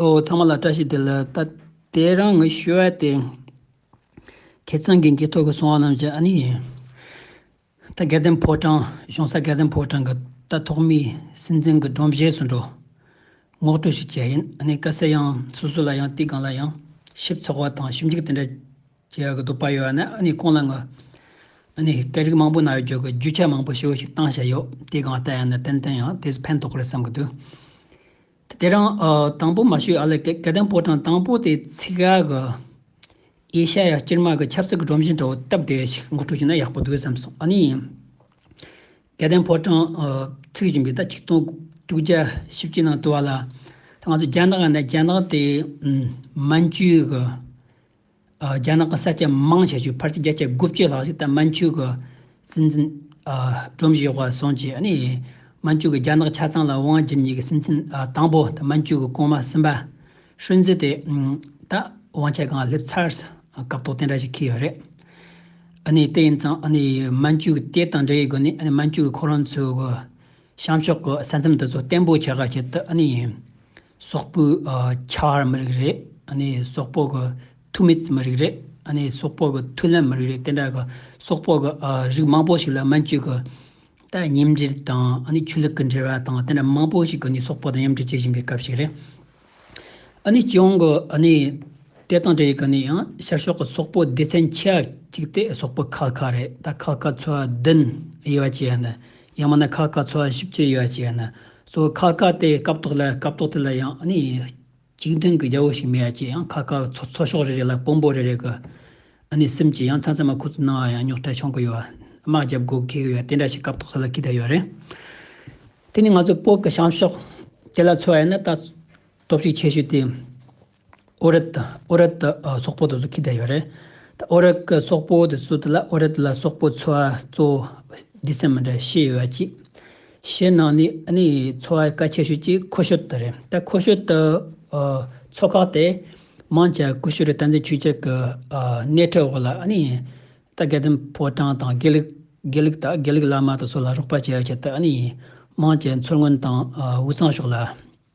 ཨོ་ཚང་མ་ལ་བཀྲ་ཤིས་བདེ་ལེགས་ད་ལྟའི་རང་ངོས་ཞུ་བ་དེ། ཁྱེད་ཚང་གི་མཇལ་ཐོ་གི་སོང་བ་རྣམས་ཀྱི་ཨ་ནི་ཡིན། ད་དགེ་ལྡན་ཕོ་བྲང་གཞུང་ས་དགེ་ལྡན་ཕོ་བྲང་གི་རྟ་ཐོག་མིའི་སྲིད་འཛིན་གྱི་སྒྲོམ་གཞས་སུ་འགྲོ། ངོགས་གྲུ་ཞིག་བྱས་ཡིན་ཨ་ནི་དཀའ་སེལ་ཡང་སོ་སོ་ལ་ཡང་དུས་གང་ལ་ཡང་ཞིབ་ཚགས་བ་དང་ཞིབ་འཇུག་དེ་འདྲ་བྱེད་ཡག་གི་འདུག་པ་ཡོད་ཨ་ནི་ཨ་ནི་ཁོང་ལ་ངོ་ཨ་ནི་སྐད་རིགས་མང་པོ་ན་ཡོད་རྒྱུ་གི་རྒྱུ་ཆ་མང་པོ་ཞེ་བོ་ཞིག་བཏང་བཞག་ཡོད་དུས་གང་ལྟར་ཡང་ན་ཏན་ཏན་ཡང་དེ་ཚོ་ཕན་ཐོག་རེད་བསམ་གི་འདུག། དེ་རིང་དང་པོ་མ་ཤོད་ཨ་ལེ་ཀེ་ཏན་པོ་ཀྲང་དང་པོ་དེའི་ཚིག་ཁ་གི། ཨེ་ཤ་ཡ་སྤྱིར་དམག་གི་ཆབ་སྲིད་ཀྱི་སྒྲོམ་གཞིའི་འགྲོ་བ་སྟབས་བདེ་ཞིག་མགོ་ཁྲུས་བྱས་ན་ཡག་པོ་འདུག་བསམ་སོང་ཨ་ནི། ཀེ་ཏན་པོ་ཀྲང་ཚུད་བཞིན་པའི་ཟླ་ཆིག་སྟོང་དྲུག་བརྒྱ་བཞི་བཅུ་ནང་དུ་བ་ལ། ང་ཚོ་རྒྱ་ནག་ནས་རྒྱ་ནག་དེ་མན་ཇུའི་གི་རྒྱ་ནག་གི་ས་སྐྱ་དམངས་ཞབས་ཞུའི་ཕར་ཆེར་རྒྱ་ཆེ་དགུ་བཅུའི་ལྷག་ཞིག་ད་མན་ཆུ་གི་སྲིད་འཛིན་སྒྲོམ་གཞིའི་འོག་སོང་རྗེས་ནས་མན་ཆུ་གི་རྒྱ་ནག་ཆ་ཚང་ལ་དབང་བསྒྱུར་ཉིད་ཀྱི་སྲིད་འཛིན་དང་པོ་ད་མན་ཆུ་གི་གོང་མ་སུན་པ་ཧྲུན་ཙི་དེ་ད་དབང་ཆ་གང་སླེབས་ཚར་སྐབས་ཐོག་དེ་འདྲ་ཞིག་ཁེལ་ཡོད་རེད། དེ་ཡིན་ཙང་མན་ཆུ་གི་དེ་དང་འབྲེལ་ཡོད་སྒོ་ནས་མན་ཆུ་གི་ཁོ་རང་ཚོའི་གཤམ་ཕྱོགས་ཀྱི་ས་མཚམས་དེ་ཚོ་བརྟན་པོ་བྱ་དགའ་བྱེད་དུ། སོག་པོའི་ཁྱད་པར་མི་རིགས་རེད། ནི་སོག་པོ་གི་ཐུགས་མེད་མི་རིགས་རེད། ནི་སོག་པོ་གི་ཐུགས་ལམ་མི་རིགས་རེད་དེ་འདྲ་གི་སོག་པོ་གི་རིགས་མང་པོ་ཞིག་ལ་སྨན་བཅོས་ཀྱི་ཐད་ཉིམ་འགྲིལ་དང་ནི་ཆོས་ལུགས་ཀྱི་འབྲེལ་བ་དང་དེ་འདྲ་མང་པོ་ཞིག་གི་ནི་སོག་པོ་དང་མཉམ་འབྲེལ་བྱེད་བཞིན་པའི་སྐབས་ཤིག་རེད། ནི་སྤྱི་ཡོངས་ཀྱི་ནི་དེ་དང་འབྲེལ་ཀྱི་ནི་ཡང་ཤར་ཕྱོགས་ཀྱི་སོག་པོ་སྡེ་ཚན་ཆེ་བ་གཅིག་སྟེ་སོག་པོ་ཁ་ཁ་རེད་ད་ཁ་ཁ་ཚོ་བདུན་དབྱེ་བ་བྱས་ན་ཡང་མིན་ན་ཁ་ཁ་ཚོ་བཞི་བཅུ་དབྱེ་བ་བྱས་ན་སོ་ཁ་ཁ་དེ་སྐབས་ཐོག་ལ་སྐབས་ཐོག་དེ་ལ་ཡང་ཨ་ནི་གཅིག་མཐུན་གྱི་རྒྱལ་པོ་ཞིག་མེད་ཡ་ཅེས་ཡང་ཁ་ཁ་ཚོ་ཚོ་ཕྱོགས་རེ་རེ་ལ་དཔོན་པོ་རེ་རེ་གི་ཨ་ནི་སེམས་ཀྱིས་ཡང་ཚ་ཚ་མ་ཁུ་ཚུར་སྣང་བ་ཡང་རྙོག་དྲ་ཆོང་གི་ཡོད་བ་དམག་རྒྱབ་དགོས་ཁེལ་གི་ཡོད་དེ་འདྲ་ཞིག་སྐབས་ཐོག་ས་ལ་ཁི་ད་ཡོད་རེད། དེ་ནི་ང་ཚོའི་སྤོག་གི་བྱང་ཕྱོགས་ཀྱི་ལ་ཚོ་ཡ་ན་ལྟ་སྟོབས་ཤིག་ཆེ་ཤོས་དེ། ཨོ་རེད། ཨོ་རེད། སོག་པོ་དེ་ཚོ་ཁྱི་དེ་ཡོད་རེད། ཨོ་རེད། སོག་པོ་དེ་ཚོ་དེ་ལ་ཨོ་རེད་ལ་སོག་པོ་འཚོ་བ་གཙོ། འདི་སེམས་མི་འདྲ་ཤེས་ཡོད་ཅིག། ཤེས་ནང་ནས་ནི་འཚོ་བ་ཀ་ཆེ་ཤོས་ཅིག་ཁོ་ཤོད་དེ་རེད། ད་ཁོ་ཤོད་དུ་འཚོ་ཁག་དེ་མང་ཆ་ཀུ་ཤུ་རི་སྟ་འཛིན་ཆུས་ཆག་གི་སྣེ་ཁྲིད་འོག་ལ་ནི་ད་དགེ་ལྡན་ཕོ་བྲང་དང་དགེ་ལུགས་དགེ་ལུགས་དང་དགེ་ལུགས་བླ་མ་དེ་ཚོ་ལ་རོགས་པ་བྱས་ཡོད་ཆེད་དུ་ནི་མང་ཆའི་འཚོ་སྔོན་དང་འུ་ཚང་ཕྱོགས་ལ།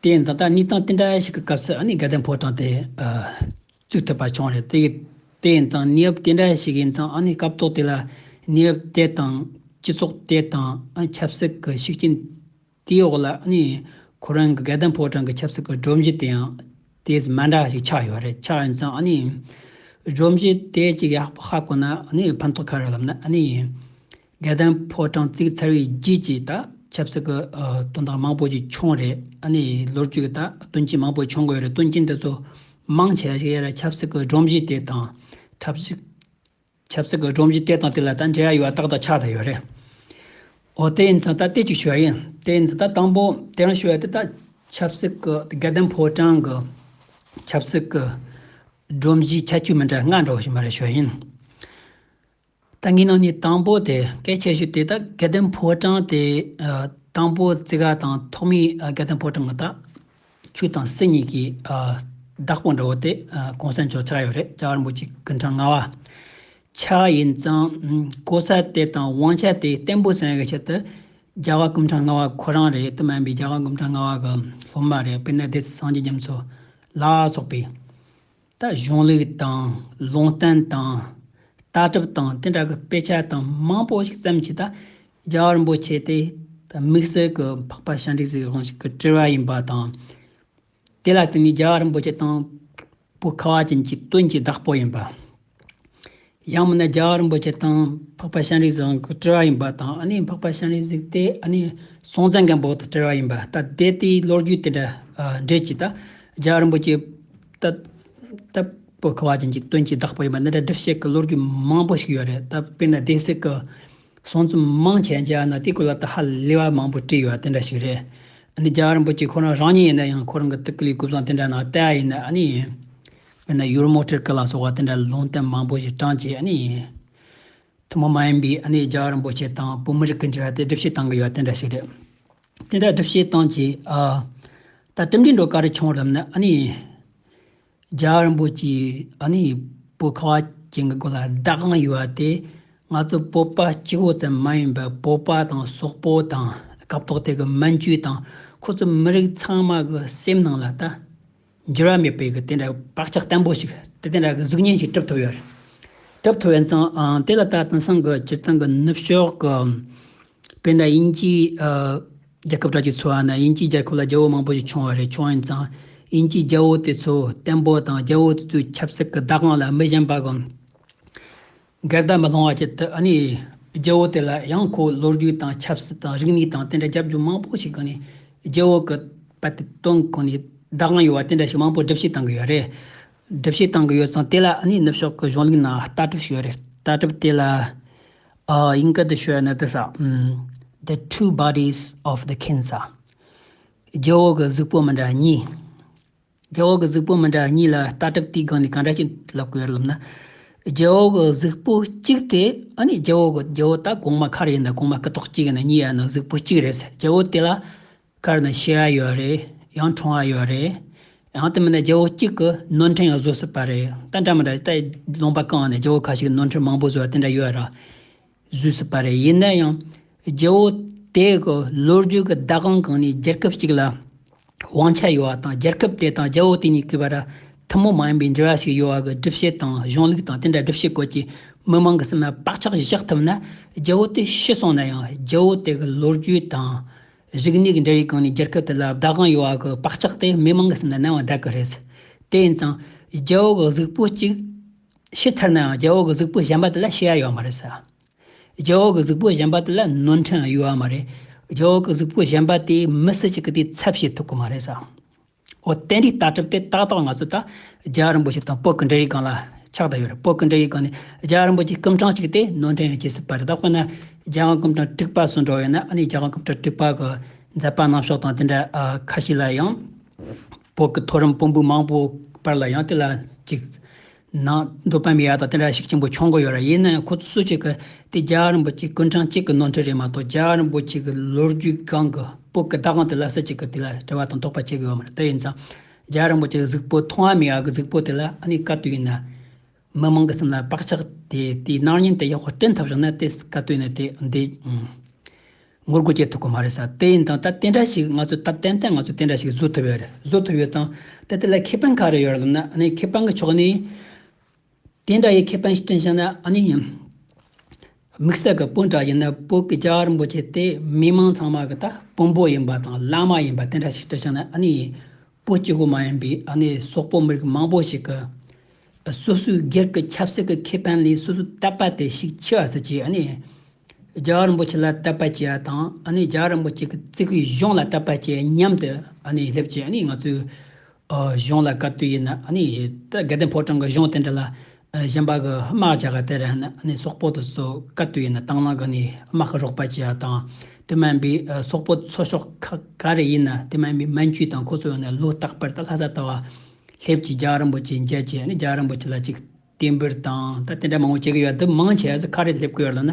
དེ་ཡང་འཛམ་ཐང་གཉིས་ཐང་དེ་འདྲ་ཞིག་གི་སྐབས་སུ་ཨ་ནི་དགའ་ལྡན་ཕོ་བྲང་དེ་བཙུགས་ཐུབ་པ་བྱུང་རེད། དེ་ཡིན་ཙང་གནས་བབ་དེ་འདྲ་ཞིག་ཡིན་ཙང་ཨ་ནི་སྐབས་ཐོག་དེ་ལ་གནས་བབ་དེ་དང་སྤྱི་ཚོགས་དེ་དང་ཆབ་སྲིད་ཀྱི་ཤུགས་རྐྱེན་དེའི་འོག་ལ་ཨ་ནི་ཁོ་རང་གི་དགའ་ལྡན་ཕོ་བྲང་གི་ཆབ་སྲིད་ཀྱི་སྒྲོམ་གཞི་དེ་ཡང་དེས་མ་འདྲ་ཞིག་ཆགས་ཡོད་རེད་ཆགས་ཡིན་ཙང་ཨ་ནི་སྒྲོམ་གཞི་དེ་ཅིག་ཧ་གོ་ན་ཨ་ནི་ཕན་ཐོགས་ཁ་རེ་ལབ་ན་ཨ་ནི་རྒྱལ་དོན་ཕོ་བྲང་བརྩིགས་ཚར་བའི་རྗེས་ཀྱི་ད་ཆབ་སྲིད་ཀྱི་དོན་དག་མང་པོ་ཞིག་བྱུང་རེད་ཨ་ནི་ལོ་རྒྱུས་ཀྱི་ད་དོན་ཆེན་མང་པོ་བྱུང་དགོས་རེད་དོན་རྐྱེན་དེ་ཚོ་མང་ཆེ་ཞིག་ཡོད་རེད་ཆབ་སྲིད་ཀྱི་སྒྲོམ་གཞི་དེ་དང་ཆབ་སྲིད་ཀྱི་སྒྲོམ་གཞི་དེ་དང་དེ་ལ་ད་འབྲེལ་བ་ཡོད་ཏག་ཏག་ཆགས་ད་ཡོད་རེད་འོ་དེ་ཡིན་ཙང་ད་ལྟོས་ཅིག་ཞུ་བ་ཡིན་དེ་ཡིན་ཙང་ད་དང་པོ་དེ་རང་ཞུ་བ་དེ་ད་ཆབ་སྲིད་ཀྱི་ད་རྒྱལ་དོན་ཕོ་བྲང་གི་ཆབ་སྲིད་ཀྱི་སྒྲོམ་གཞིའི་ཁྱད་ཆོས་མི་འདྲ་ང་འདྲ་བ་ཞིག་མ་རེད་ཞུ་བ་ཡིན། ད་ངའི་ནང་ནས་དང་པོ་དེ་སྐད་ཆ་ཞུས་དེ་དག་དགེ་ལྡན་ཕོ་བྲང་དེ་དང་པོ་བརྩི་ག་དང་ཐོག་མའི་དགེ་ལྡན་ཕོ་བྲང་གི་དག་ཆུ་དང་སྲིད་གཉིས་ཀྱི་བདག་པོ་འདྲ་བོ་དེ་གོང་ས་མཆོག་ཆགས་ཡོད་རེད་ཅག་རིན་པོ་ཆེ་གི་འཕྲང་ང་བ་ཆགས་ཡིན་ཙང་གོ་ས་དེ་དང་དབང་ཆ་དེ་བརྟན་པོ་ཟེར་བའི་ཆེད་དུ་རྒྱ་བ་གི་འཕྲང་ང་བ་ཁོ་རང་རེད་དུ་མིན་པའི་རྒྱ་བ་གི་འཕྲང་ང་བ་གི་སློབ་མ་རེད་དཔེར་ན་སྡེ་སྲིད་སངས་རྒྱས་རྒྱ་མཚོ་ལགས་སོགས་པའི། ལྟ་གཞུང་ལུགས་དང་ལུང་བསྟན་དང་ལྟ་གྲུབ་དང་དེ་འདྲ་གི་དཔེ་ཆ་དང་མང་པོ་ཞིག་བཙལ་མཆིས་དང་རྒྱ་གར་འབོད་བྱས་ཏེ་དམིགས་བསལ་གི་འཕགས་པ་ཞབྲིག་ཟེར་བའི་ལུང་ཞིག་གི་དྲི་བ་ཡིན་པ་དང། དེ་ལ་དེ་ནི་རྒྱ་གར་འབོད་བྱེད་དང་པོ་ཁ་བ་ཅན་གྱི་དོན་གྱི་བདག་པོ་ཡིན་པ། ཡང་མིན་ན་རྒྱ་གར་རིན་པོ་ཆེ་དང་འཕགས་པ་ཤཱནྟི་བཟང་གི་བྲེལ་བ་ཡིན་པ་དང་ཨ་ནི་འཕགས་པ་ཤཱནྟི་གཟིགས་དེ་ཨ་ནི་སྲོང་བཙན་སྒམ་པོ་དང་བྲེལ་བ་ཡིན་པ་ལྟ་དེ་དེའི་ལོ་རྒྱུས་དེ་འདྲ་འགྲེལ་གྱིས་ད་རྒྱ་གར་རིན་པོ་ཆེ་ལྟ་བུ་ཁ་བ་ཅན་གྱི་དོན་གྱིས་བདག་པོ་ཡིན་པ་འདི་འདྲ་སྒྲུབ་བྱེད་ཀྱི་ལོ་རྒྱུས་མང་པོ་ཞིག་ཡོད་རེད་ད་དཔེར་ན་སྡེ་སྲིད་ཀྱི་གསུང་རྩོམ་མང་ཆེ་མཇལ་ན་དེའི་སྐོར་ལ་ད་ཧ་ལས་པ་མང་པོ་བྲིས་ཡོད་དེ་འདྲ་ཞིག་རེད་ཨ་ནི་རྒྱ་གར་རིན་པོ་ཆེ་ཁོ་རང་རང་ཉིད་ཡིན་ན་ཡང་ཁོ་རང་གི་ཐུགས་ཀྱི་ལུས་སྐུ་བཟང་དེ་འདྲ་ནང་བསྟན་ཡིན་ན་ཨ་ནི། དཔེར་ན་ཡུར་མོ་ཁྲིར་ཀི་ལ་སོགས་བ་དེ་འདྲ་ལུང་བསྟན་མང་པོ་ཞིག་གྲངས་བཅད་ནས་ཡིན། ཐུན་མོང་མ་ཡིན་པའི་ཨ་ནེ་རྒྱ་རིན་པོ་ཆེ་དང་བོད་མི་རིགས་ཀྱི་འབྲེལ་བ་དེ་སྒྲུབ་བྱེད་སྟངས་ཀྱི་ཡོད་དེ་འདྲ་ཞིག་རེད། དེ་འདྲ་སྒྲུབ་བྱེད་སྟངས་ཀྱིས་ཨ། ད་གྲུབ་འབྲས་འགྲོ་ག་རེ་བྱུང་རབས་ན་ཨ་ནེ་རྒྱ་རིན་པོ་ཆེའི་ཨ་ནེའི་བུ་ཁ་བ་ཅན་གྱི་སྒོ་ལ་བདག་དབང་ཡོད་བ་དེ་ང་ཚོ་བོད་པ་སྤྱི་བོ་ཙམ་མ་ཡིན་པར་བོད་པ་དང་སོག་པོ་དང་སྐབས་ཐོག་དེ་གི་མན་ཇུ་དང་ཁོ་ཚོ་མི་རིགས་ཚང་མ་གི་སེམས་ནང་ལ་ད། འགྱུར་བ་མེད་པའི་དེ་འདྲ་བག་ཆགས་བརྟན་པོ་ཞིག་དེ་དེ་འདྲ་གཟུགས་བརྙན་ཞིག་གྲུབ་ཐུབ་ཡོད་རེད། གྲུབ་ཐུབ་ཡོད་ཙང་དེ་ལ་ད་དེང་སང་གི་སྤྱིར་བཏང་གི་ནུབ་ཕྱོགས་ཀྱི་བོད་ནང་དབྱིན་ཇིའི་རྒྱལ་ཁབ་དག་གི་ཚོ་བ་ནང་དབྱིན་ཇིའི་རྒྱལ་ཁབ་ལ་རྒྱལ་བོ་མང་པོ་ཞིག་བྱུང་བ་རེད་བྱུང་ཡོད་ཙང་དབྱིན་ཇིའི་རྒྱལ་བོ་དེ་ཚོ་བརྟན་པོ་དང་རྒྱལ་བོ་དེ་ཚོའི་ཆབ་སྲིད་ཀྱི་བདག་དབང་ལ་མི་ཞེན་པ་དང། སྒེར་བདག་མི་སློང་བ་བྱེད་དུ་ཨ་ནི། རྒྱལ་བོ་དེ་ལ་ཡང་ཁོའི་ལོ་རྒྱུས་དང་ཆབ་སྲིད་དང་རིག་གནས་དང་དེ་འདྲ་རྒྱབ་སྐྱོར་མང་པོ་ཞིག་གི་ནི། རྒྱལ་བོ་གི་པ་དེ་དོན་གི་ནི་བདག་དབང་ཡོད་བ་དེ་འདྲ་ཞིག་མང་པོ་སྒྲུབ་བྱེད་བཏང་གི་ཡོད་རེད། སྒྲུབ་བྱེད་བཏང་གི་ཡོད་ཙང་དེ་ལ་ཨ་ནི་ནུབ་ཕྱོགས་ཀྱི་གཞུང་ལུགས་ནང་ལྟ་གྲུབ་ཞིག་ཡོད་རེད་ལྟ་གྲུབ་དེ་ལ། ཡིན་ཀི་འདི་ཤོད་ནི་དེ་ཟ། The two bodies of the ཁིན་ཟ། རྒྱལ་བོ་གི་གཟུགས་པོ་མི་འདྲ་གཉིས། རྒྱལ་བོ་གི་གཟུགས་པོ་མི་འདྲ་གཉིས་ལ་ལྟ་གྲུབ་དུས་སྒང་ནས་གང་འདྲ་ཞིག་ལབ་དགོས་ལབ་ན། རྒྱལ་བོ་གི་གཟུགས་པོ་གཅིག་དེ་ཨ་ནི་རྒྱལ་བོ་གི་རྒྱལ་བོ་དག་གོང་མ་གར་ཡིན་ད་གོང་མ་སྐུ་ཐོག་གཅིག་ཡིན་ན་གཉིས་ཡ་ན་གཟུགས་པོ་གཅིག་རེད་ཟེར་རྒྱལ་བོ་དེ་ལ་གར་ན་ཕྱི་ཡ་ཡོད་རེད་ཡང་ཁྲོང་ཡ་ཡོད་རེད། ཡང་དེ་མིན་ན་རྒྱལ་བོ་གཅིག་གི་ནོར་འཁྲུལ་ཡང་བཟོ་སྲིད་པ་རེད་ད་འདྲ་མི་འདྲ་ད་ལོང་པ་གང་ནས་རྒྱལ་བོ་ག་ཞིག་གི་ནོར་འཁྲུལ་མང་པོ་བཟོ་བ་དེ་འདྲ་ཡོད་ར། བཟོས་སྲིད་པ་རེད་ཡིན་ན་ཡང་རྒྱལ་བོ་དེའི་གི་ལོ་རྒྱུས་ཀྱི་ཟླ་གང་གང་ནས་རྒྱལ་ཁབ་གཅིག་ལ་དབང་ཆ་ཡོད་བ་དང་རྒྱལ་ཁབ་དེ་དང་རྒྱལ་བོ་དེ་གཉིས་ཀྱི་བར་ཐུན་མོང་མ་ཡིན་པའི་འབྲེལ་བ་ཞིག་ཡོད་བ་གི་སྒྲུབ་བྱེད་དང་གཞུང་ལུགས་དང་དེ་འདྲ་སྒྲུབ་བྱེད་སྐོར་གྱི་མི་མང་གི་སེམས་ལ་བག་ཆགས་ཤིག་བཞག་ཐུབ་ན་རྒྱལ་བོ་དེ་ཤི་སོང་ན་ཡང་རྒྱལ་བོ་དེ་གི་ལོ་རྒྱུས་དང། རིག་གནས་ཀྱི་འབྲེལ་བའི་སྒང་ནས་རྒྱལ་ཁབ་དེ་ལ་བདག་དབང་ཡོད་བ་གི་བག་ཆགས་དེ་མི་མང་གི་སེམས་ལ་གནང་བ་འདྲ་གི་རེད། དེ་ཡིན་ཙང་རྒྱལ་བོ་གི་གཟུགས་པོ་གཅིག་ཤི་ཚར་ནའང་རྒྱལ་བོ་གི་གཟུགས་པོ་བཞེངས་པ་དེ་ལ་ཤི་ཡ་ཡོད་མ་རེད། རྒྱལ་བོ་གི་གཟུགས་པོ་བཞེངས་པ་དེ་ལ་ནོར་འཁྲུལ་ཡང་ཡོད་ཡ་མ་རེད། རྒྱལ་བོ་གི་གཟུགས་པོ་བཞེངས་པ་དེས་མི་སུ་གཅིག་གི་དེའི་ཚབ་བྱེད་ཐུབ་གི་མ་རེད། འོ་དེ་འདྲའི་ལྟ་གྲུབ་དེ་ཏག་ཏག་ང་ཚོ་ད་རྒྱལ་རིན་པོ་ཆེ་དང་པོད་ཀི་འདྲེ་ཡི་སྒང་ལ་ཆགས་ད་ཡོད་རེད་པོད་ཀི་འདྲེ་ཡི་སྒང་ནས་རྒྱལ་རིན་པོ་ཆེའི་སྐུམ་ཕྲང་གཅིག་དེ་ནོར་འཁྲུལ་ཡང་བྱེད་སྲིད་པ་རེད་ད་དཔེར་ན་རྒྱལ་དབང་སྐུམ་ཕྲང་དཀྲུགས་པ་སུ་འགྲོ་ཡོད་ན་ཨ་ནི་རྒྱལ་དབང་སྐུམ་ཕྲང་དཀྲུགས་པ་གི་མཛད་པ་ནང་ཕྱོགས་དང་དེ་འདྲ་ཁ་ཤས་ལ་ཡང། བོགས་ཀྱི་ཐོ་རངས་སྤོམ་བུ་མང་པོ་སྤར་ལ་ཡང་དེ་ལ་ཅིག། ནང་རྡོ་པའམ་ཡ་དང་དེ་འདྲ་ཞིག་ཆེན་པོ་འཆོང་གི་ཡོད་ར་ཡིན་ན་ཡང་ཁོ་ཚོས་སུ་ཞིག་གིས་དེ་རྒྱ་རིང་པོ་ཅིག་ཀུན་ཁྲང་ཅིག་གི་ནོར་འཁྲུལ་རེད་མ་གཏོགས་རྒྱ་རིང་པོ་ཅིག་གི་ལོ་རྒྱུས་སྒང་གི་བོགས་ཀྱི་བདག་དབང་དེ་ལ་སུ་ཞིག་གིས་དེ་ལ་དྲི་བ་དང་དོགས་པ་བྱེད་གི་ཡོད་མ་རེད་དེ་ཡིན་ཙང་རྒྱ་རིང་པོ་ཅིག་གི་གཟུགས་པོ་མཐོང་བའམ་ཡ་གི་གཟུགས་པོ་དེ་ལ་ཨ་ནི་སྐབས་དེ་ཡིན་ན། མི་མང་གི་སེམས་ལ་བག་ཆགས་དེ་དེའི་སྣང་བརྙན་དེ་ཡག་པོ་བསྐྲུན་ཐབས་བྱུང་ན་དེ་བཀའ་བསྟོད་ནི་དེ་འདི། ངོ་རྒོལ་བྱེད་ཐུབ་ཀི་མ་རེད་ས་དེ་ཡིན་དང་ད་དེ་འདྲ་ཞིག་ང་ཚོས་ད་ཏན་ཏན་ང་ཚོས་དེ་འདྲ་ཞིག་བཟོ་ཐུབ་ཡོད་རེད་བཟོ་ཐུབ་ཡོད་དང་ད་དེ་ལ་ཁེ་ཕན་ག་རེ་ཡོད་རེད་ལབ་ན་ནི་ཁེ་ཕན་གི་ཕྱོགས་ནས་དེ་འདྲ་ཡི་ཁེ་ཕན་བསྐྲུན་བྱུང་ན་ནི། དམིགས་བསལ་གྱི་སྤུན་གྲགས་ཡིན་ན་བོད་ཀྱི་རྒྱ་རིན་པོ་ཆེ་དེ་མི་མང་ཚང་མ་གི་ད་དཔོན་པོ་ཡིན་པ་དང་བླ་མ་ཡིན་པ་དེ་འདྲ་ཞིག་ཏུ་བྱས་ན་ཨ་ནི་བོད་སྤྱི་གོ་མ་ཡིན་པའི་ཨ་ནི་སོག་པོ་མི་རིགས་མང་པོ་ཞིག་གི་སོ་སོའི་སྒེར་གྱི་ཆབ་སྲིད་ཀྱི་ཁེ་ཕན་ལས་སོ་སོའི་དད་པ་དེ་ཞིག་འཆི་བ་སུ་བྱས་ཨ་ནི་རྒྱ་རིན་པོ་ཆེ་ལ་དད་པ་བྱས་པ་དང་ཨ་ནི་རྒྱ་རིན་པོ་ཆེ་གི་བརྩིགས་པའི་གཞུང་ལ་དད་པ་བྱས་མཉམ་དུ་ཨ་ནི་སླེབས་ཀྱི་ཨ་ནི་ང་ཚོའི་གཞུང་ལ་བཀའ་བསྟུད་ཡིན་ན་ནི། དགེ་ལྡན་ཕོ་བྲང་གི་གཞུང་དེ་འདྲ་ལ། གཞན་པ་གི་དམག་བྱ་དགའ་དེར་ནི་སོག་པོ་དུ་སོ་བཀའ་བསྟུད་ཡིན་ན་དང་བླངས་ཀྱི་ནི་དམག་གི་རོགས་པ་བྱེད་ཡ་དང། དེ་མ་ཡིན་པའི་སོག་པོ་ཚོ་ཤོག་ཁག་ག་རེ་ཡིན་ན་དེ་མ་ཡིན་པའི་མན་ཇུས་དང་ཁོ་ཚོ་ཡོང་ནས་ལོ་རྟག་པར་ད་ལྷ་ས་ལྟ་བ། ལྷེབ་ཀྱི་རྒྱ་རིན་པོ་ཆེ་མཇལ་བྱས་ནས་རྒྱ་རིན་པོ་ཆེ་ལ་ཅིག་བསྟེན་འབུལ་དང་ད་དེ་འདྲ་མང་བོ་བྱེད་ཀྱི་ཡོད་དུ་མང་ཆེ་ས་ཁ་རེ་སླེབས་ཀྱི་ཡོད་ལ་ན།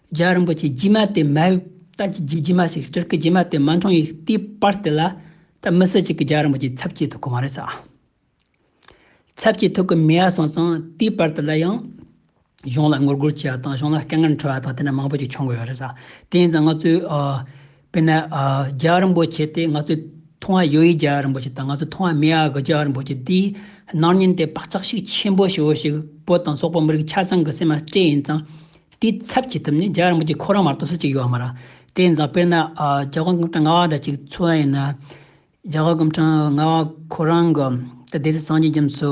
རྒྱལ་རིན་པོ་ཆེ་རྗེས་མ་དེ་མ་ཡོད་ད་ཀྱི་རྗེས་མ་ཞིག་སྤྲུལ་སྐུ་རྗེས་མ་དེ་མ་འཁྲུངས་ཡིག་དེའི་པར་དེ་ལ་ད་མི་སུ་གཅིག་གི་རྒྱལ་རིན་པོ་ཆེའི་ཚབ་བྱེད་ཐུབ་གི་མ་རེད་ས། ཚབ་བྱེད་ཐུབ་གི་མེད་ཡ་སོང་ཙང་དེའི་པར་དེ་ལ་ཡང་གཞུང་ལ་ངོ་རྒོལ་བྱས་ཡ་དང་གཞུང་ལ་སྐད་ངན་འཕྲོ་ཡ་དང་དེ་འདྲ་མང་པོ་ཞིག་བྱུང་གི་ཡོད་རེད་ས། དེ་ཡིན་ཙང་ང་ཚོའི། དཔེར་ན། རྒྱ་རིན་པོ་ཆེ་དེ་ང་ཚོའི་ཐུང་ཨ་ཡོ་ཡི་རྒྱ་རིན་པོ་ཆེ་དང་ང་ཚོའི་ཐུང་ཨ་མེ་ཨ་གི་རྒྱ་རིན་པོ་ཆེ་འདིའི་སྣང་བརྙན་དེ་བག་ཆགས་ཤིག་ཆེན་པོ་ཞེ་བོ་ཞིག་བོད་དང་སོག་པོ་མི་རིགས་ཆ་ཚང་གི་སེམས་ལ་སྤྲད་ཡིན་ཙང། དེའི་ཚབ་བྱེད་ཐུབ་ནི་རྒྱ་རིན་པོ་ཆེ་ཁོ་རང་མ་གཏོགས་སུ་གཅིག་ཡོད་མ་རང། དེ་ཡིན་ཙང་དཔེར་ན། རྒྱ་གར་གུམ་ཁྲང་ང་བ་འདྲ་གཅིག་འཚོལ་བ་ཡིན་ན། རྒྱ་གར་གུམ་ཁྲང་ང་བ་ཁོ་རང་གི་ད་སྡེ་སྲིད་སངས་རྒྱས་རྒྱ་མཚོ།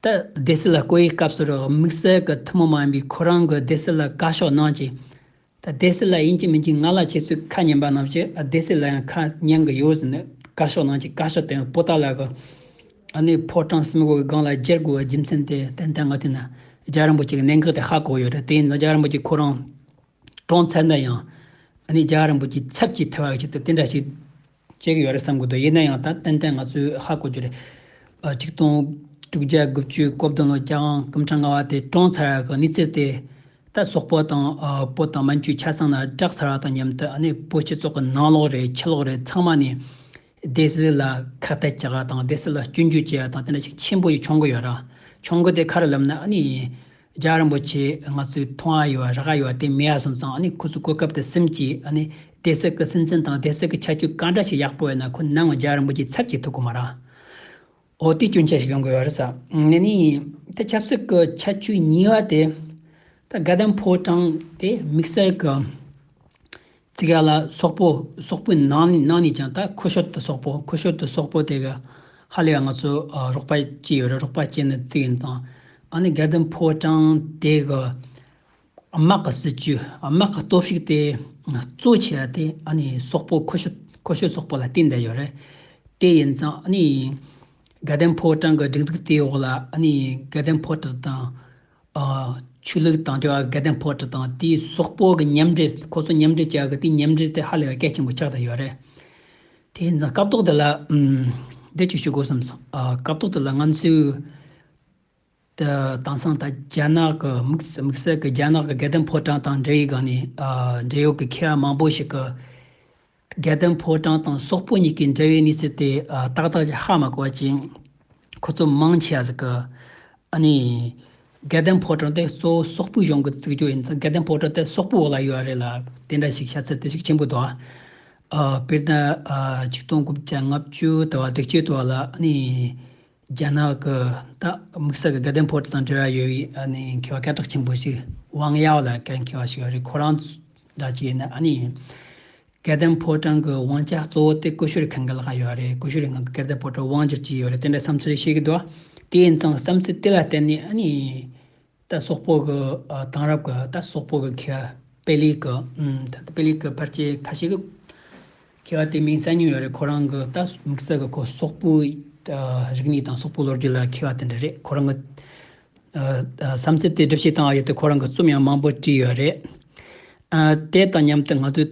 ད་སྡེ་སྲིད་ལ་བསྐོ་ཡི་སྐབས་སུ་དམིགས་བསལ་གི་ཐུན་མོང་མ་ཡིན་པའི་ཁོ་རང་གི་སྡེ་སྲིད་ལ་བཀའ་ཤོག་གནང་ཅིག། ད་བདེ་སི་ལ་ཡིན་གཅིག་མིན་གཅིག་ང་ལ་ཁྱེད་ཚོས་ཁ་ཉན་པ་རྣམས་ཀྱིས་བདེ་སི་ལ་ཡང་ཁ་ཉན་གི་ཡོད་ཟེར་ནས་བཀའ་ཤོག་ནང་གི་བཀའ་ཤག་དེ་པོ་ཏཱ་ལ་གི་ཨ་ནུའི་ཕོ་བྲང་གསུམ་གོ་བའི་སྒང་ལ་བསྒྱེལ་དགོས་པའི་རྒྱུ་མཚན་དེ་ཏན་ཏན་ང་ཐོས་ན་རྒྱ་རིང་པོ་ཅིག་གནད་འགག་དེ་ཧ་གོ་ཡོད་རེད་དེ་ཡིན་ན་རྒྱ་རིང་པོ་ཅིག་ཁོ་རང་གྲོངས་ཚར་ན་ཡང་ཨ་ནི་རྒྱ་རིང་པོ་ཅིག་ཚབ་ཀྱིས་ཐལ་བ་ཞིག་ཏུ་དེ་འདྲ་ཞིག་བྱེད་ཀྱི་ཡོད་རེད་བསམ་གྱི་འདུག་ཡིན་ན་ཡང་ད་ཏན་ཏན་ང་ཚོས་ཧ་གོ་རྒྱུ་རེད། ཆིག་སྟོང་དྲུག་བརྒྱ་དགུ་བཅུའི་སྐོར་བདུན་ལོ་བརྒྱ་གང་སྐུ་འཕྲང་ལྔ་བ་དེ་བཀྲོངས་ཚར་བ་གི་གནས་ཚུལ་དེ། ད་སོག་པོ་དང་པོ་དང་མན་ཇུའི་ཆ་ཚང་ན་བསྒྲགས་ཚར་བ་དང་མཉམ་དུ་ཨ་ནེ་པོ་སྤྱི་ཚོགས་ཀྱི་ནང་ལོགས་རེད་ཕྱི་ལོགས་རེད་ཚང་མ་ནས། སྡེ་སྲིད་ལ་ཁག་ཐེག་བྱེད་དགའ་དང་སྡེ་སྲིད་ལ་སྐྱོན་བརྗོད་བྱེད་ཡ་དང་དེ་འདྲ་ཞིག་ཆེན་པོ་ཞིག་འཆོང་གི་ཡོད་ར། འཆོང་གི་དེ་ཁ་རུ་ལབ་ན་ཨ་ནེ་ཡིན། རྒྱ་རིན་པོ་ཆེས་ང་ཚོའི་མཐོང་ཨ་ཡོད་བ་རག་ཨ་ཡོད་བ་དེ་མེད་ཨ་སོང་ཙང་ཨ་ཁོ་ཚོ་གོ་སྐབས་དེ་སེམས་ཀྱིས་ཨ་སྡེ་སྲིད་ཀྱི་སྲིད་འཛིན་དང་སྡེ་སྲིད་ཀྱི་ཆ་རྒྱུས་ག་འདྲ་ཞིག་ཡག་པོ་ཡོད་ན་ཁོ་ནང་ངོ་རྒྱ་རིན་པོ་ཆེའི་ཚབ་ཀྱིས་ཐུག་གི་མ་རང། འོ་དེ་སྐྱོན་ཆ་ཞིག་ཡོང་གི་ཡོད་རེད་ས་ངེས་ནི་ཡིན། དེ་ཆབ་སྲིད་ཀྱི་ཆ་རྒྱུས་ཉིས་བ་དེ། ད་དགའ་ལྡན་ཕོ་བྲང་དེ་དམིགས་བསལ་གྱི། ཙི་ག་ལ་སོག་པོ་སོག་པོའི་ནང་ནས་ནང་ནས་ཀྱང་ད་ཁོ་ཤོར་དུ་སོག་པོ་ཁོ་ཤོར་དུ་སོག་པོ་དེ་ག་ཧ་ལས་པ་ང་ཚོ་རོགས་པ་བྱས་ཡོད་རེད་རོགས་པ་བྱས་ནས་ཙི་ཡིན་དང་ཨ་ནི་སྒེར་དོན་ཕོ་བྲང་དེ་ག་དམག་གི་སྲིད་ཇུས་དམག་གི་སྟོབས་ཤུགས་དེ་གཙོ་ཆེ་བ་དེ་ཨ་ནི་སོག་པོ་ཁོ་ཤོར་ཁོ་ཤོར་སོག་པོ་ལ་བརྟེན་བསྡད་ཡོད་རེད་དེ་ཡིན་ཙང་ཨ་ནི་སྒེར་དོན་ཕོ་བྲང་གི་སྒྲིག་འཛུགས་དེའི་འོག་ལ་ཨ་ནི་སྒེར་དོན་ཕོ་བྲང་དང་ཆོས་ལུགས་དང་འབྲེལ་བ་དགེ་ལྡན་ཕོ་དྲི་དང་དེའི་སོག་པོ་གི་མཉམ་འབྲེལ་ཁོ་ཚོ་མཉམ་འབྲེལ་བྱ་གི་དེའི་མཉམ་འབྲེལ་དེ་ཧ་ལས་པ་སྐད་ཆེན་པོ་ཆགས་ད་ཡོད་རེད། དེ་ཡིན་ཙང་སྐབས་ཐོག་དེ་ལ་འདི་ཅིག་ཞུ་དགོས་བསམ་སོང། སྐབས་ཐོག་དེ་ལ་ང་ཚོའི་དེང་སང་ད་རྒྱ་ནག་གི་དམིགས་བསལ་གི་རྒྱ་ནག་གི་དགེ་ལྡན་ཕོ་བྲང་དང་འབྲེལ་ཡོད་སྒང་ནས་འབྲེལ་ཡོད་ཀྱི་མཁས་པ་མང་པོ་ཞིག་གི། རྒྱལ་བསྟན་ཕོ་བྲང་དང་སོག་པོ་གཉིས་ཀྱི་འབྲེལ་བའི་གནས་ཚུལ་དེ་ཏག་ཏག་ཅིག་ཧ་མ་གོ་བ་ཅིང། ཁོ་ཚོ་མང་ཆེ་བ་ཟིག་གི། ཨ་ནི། རྒྱལ་བསྟན་ཕོ་བྲང་དེ་གཙོ་བོ་སོག་པོའི་གཞུང་གི་བརྩིགས་ཆོས་ཡིན་ཙང་རྒྱལ་བསྟན་ཕོ་བྲང་དེ་སོག་པོའི་འོག་ལ་ཡོད་པ་རེད་ལ་དེ་འདྲ་ཞིག་བྱ་ཚད་དེ་ཤུགས་ཆེན་པོ་འདུག་ཨ། དཔེར་ན། ཆིག་སྟོང་དགུ་བརྒྱ་ལྔ་བཅུ་དུ་བ་དྲེགས་བཅུ་དུ་བ་ལ་ཨ་ནི། རྒྱ་ནག་གི་ད་དམིགས་བསལ་གྱི་དགའ་ལྡན་ཕོ་བྲང་དང་འབྲེལ་བ་ཡོད་པའི་ནི་མཁས་པ་སྐད་གྲགས་ཆེན་པོ་ཞིག་ཝང་ཡའོ་ལ་ཀན་མཁས་པ་ཞིག་རེད་ཁོ་རང་འདྲ་ཅིག་ཡིན་ན་ནི་ཡིན། དགའ་ལྡན་ཕོ་བྲང་གི་དབང་ཆ་གཙོ་བོ་དེ་ཀུ་ཤུ་རི་གྷན་གི་ལག་ཡོད་རེད་ཀུ་ཤུ་རི་གྷན་གི་སྐད་བརྡ་ཕོ་བྲང་དབང་བསྒྱུར་གྱི་ཡོད་རེད་དེ་འདྲ་བསམ་ཚུལ་ཞིག་གི་འདུག་དེའི་མཚང་བསམ་ཚུལ་དེ་ལ་བརྟེན་ནས་ནི། རྟ་སོག་པོ་གི་དང་རབས་ཀྱི་རྟ་སོག་པོ་གི་ཁེ་དཔེ་ལས་ཀྱི་ད་ལྟ་དཔེ་ལས་ཀྱི་ཕར་ཆེར་ཁ་ཤས་ཀྱི་ཁེ་བ་དེ་མིང་གསལ་ཉུང་ཡོད་རེད་ཁོ་རང་གི་རྟ་དམིགས་བསལ་གྱི་ཁོ་སོག་པོའི་རིག་གནས་དང་སོག་པོའི་ལོ་རྒྱུས་ལ་ཁེ་བ་དེ་འདྲ་རེད་ཁོ་རང་གི་བསམ་ཚུལ་དེ་སྒྲུབ་བྱེད་བཏང་བ་ཡོད་དེ་ཁོ་རང་གི་རྩོམ་ཡང་མང་པོ་བྲིས་ཡོད་རེད། དེ་དང་མཉམ་དུ་ང་ཚོས།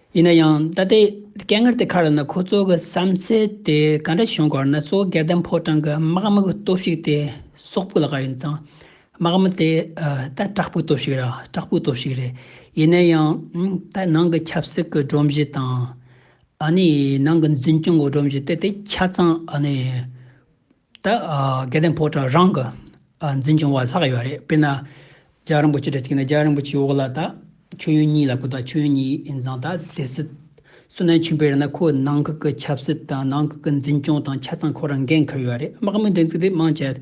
ཡིན་ན་ཡང་ད་ལྟའི་སྐད་ངར་དེ་ཁ་ར་ན་ཁོ་ཚོ་གི་བསམ་ཚེ་དེ་ག་འདྲ་བྱུང་གོར་ན་གཙོ་བོ་སྒེར་དམ་ཕོ་བྲང་གི་དམག་དམག་གི་སྟོབས་ཤིག་དེ་སོག་པོ་ལ་ག་ཡིན་ཙང་དམག་དམག་དེ་ད་དྲག་པོའི་སྟོབས་ཤིག་ར་དྲག་པོའི་སྟོབས་ཤིག་རེད་ཡིན་ན་ཡང་ད་ནང་གི་ཆབ་སྲིད་གི་སྒྲོམ་གཞི་དང་ཨ་ནི་ནང་གི་འཛིན་སྐྱོང་གི་སྒྲོམ་གཞི་དེ་དེ་ཆ་ཙང་ཨ་ནི། ད་སྐལ་ལྡན་ཕོ་བྲང་རང་གི་འཛིན་སྐྱོང་བ་ལྷག་ཡོད་རེད་དཔེར་ན། ལྕགས་རིན་པོ་ཆེ་དྲ་གཅིག་ན་ལྕགས་རིན་པོ་ཆེའི་འོག་ལ་ད་མཆོད་ཡོན་གཉིས་ལ་ཁོ་ད་མཆོད་ཡོན་གཉིས་ཡིན་ཙང་ད་སྡེ་སྲིད། སུ་ན་ཆུན་པའི་ར་ན་ཁོ་ནང་ཁུལ་གྱི་ཆབ་སྲིད་དང་ནང་ཁུལ་གྱི་འཛིན་སྐྱོང་དང་ཆ་ཚང་ཁོ་རང་འགན་འཁུར་ཡོད་རེད་དམག་མི་འདྲེན་ཚུལ་དེ་དམངས་ཆེད།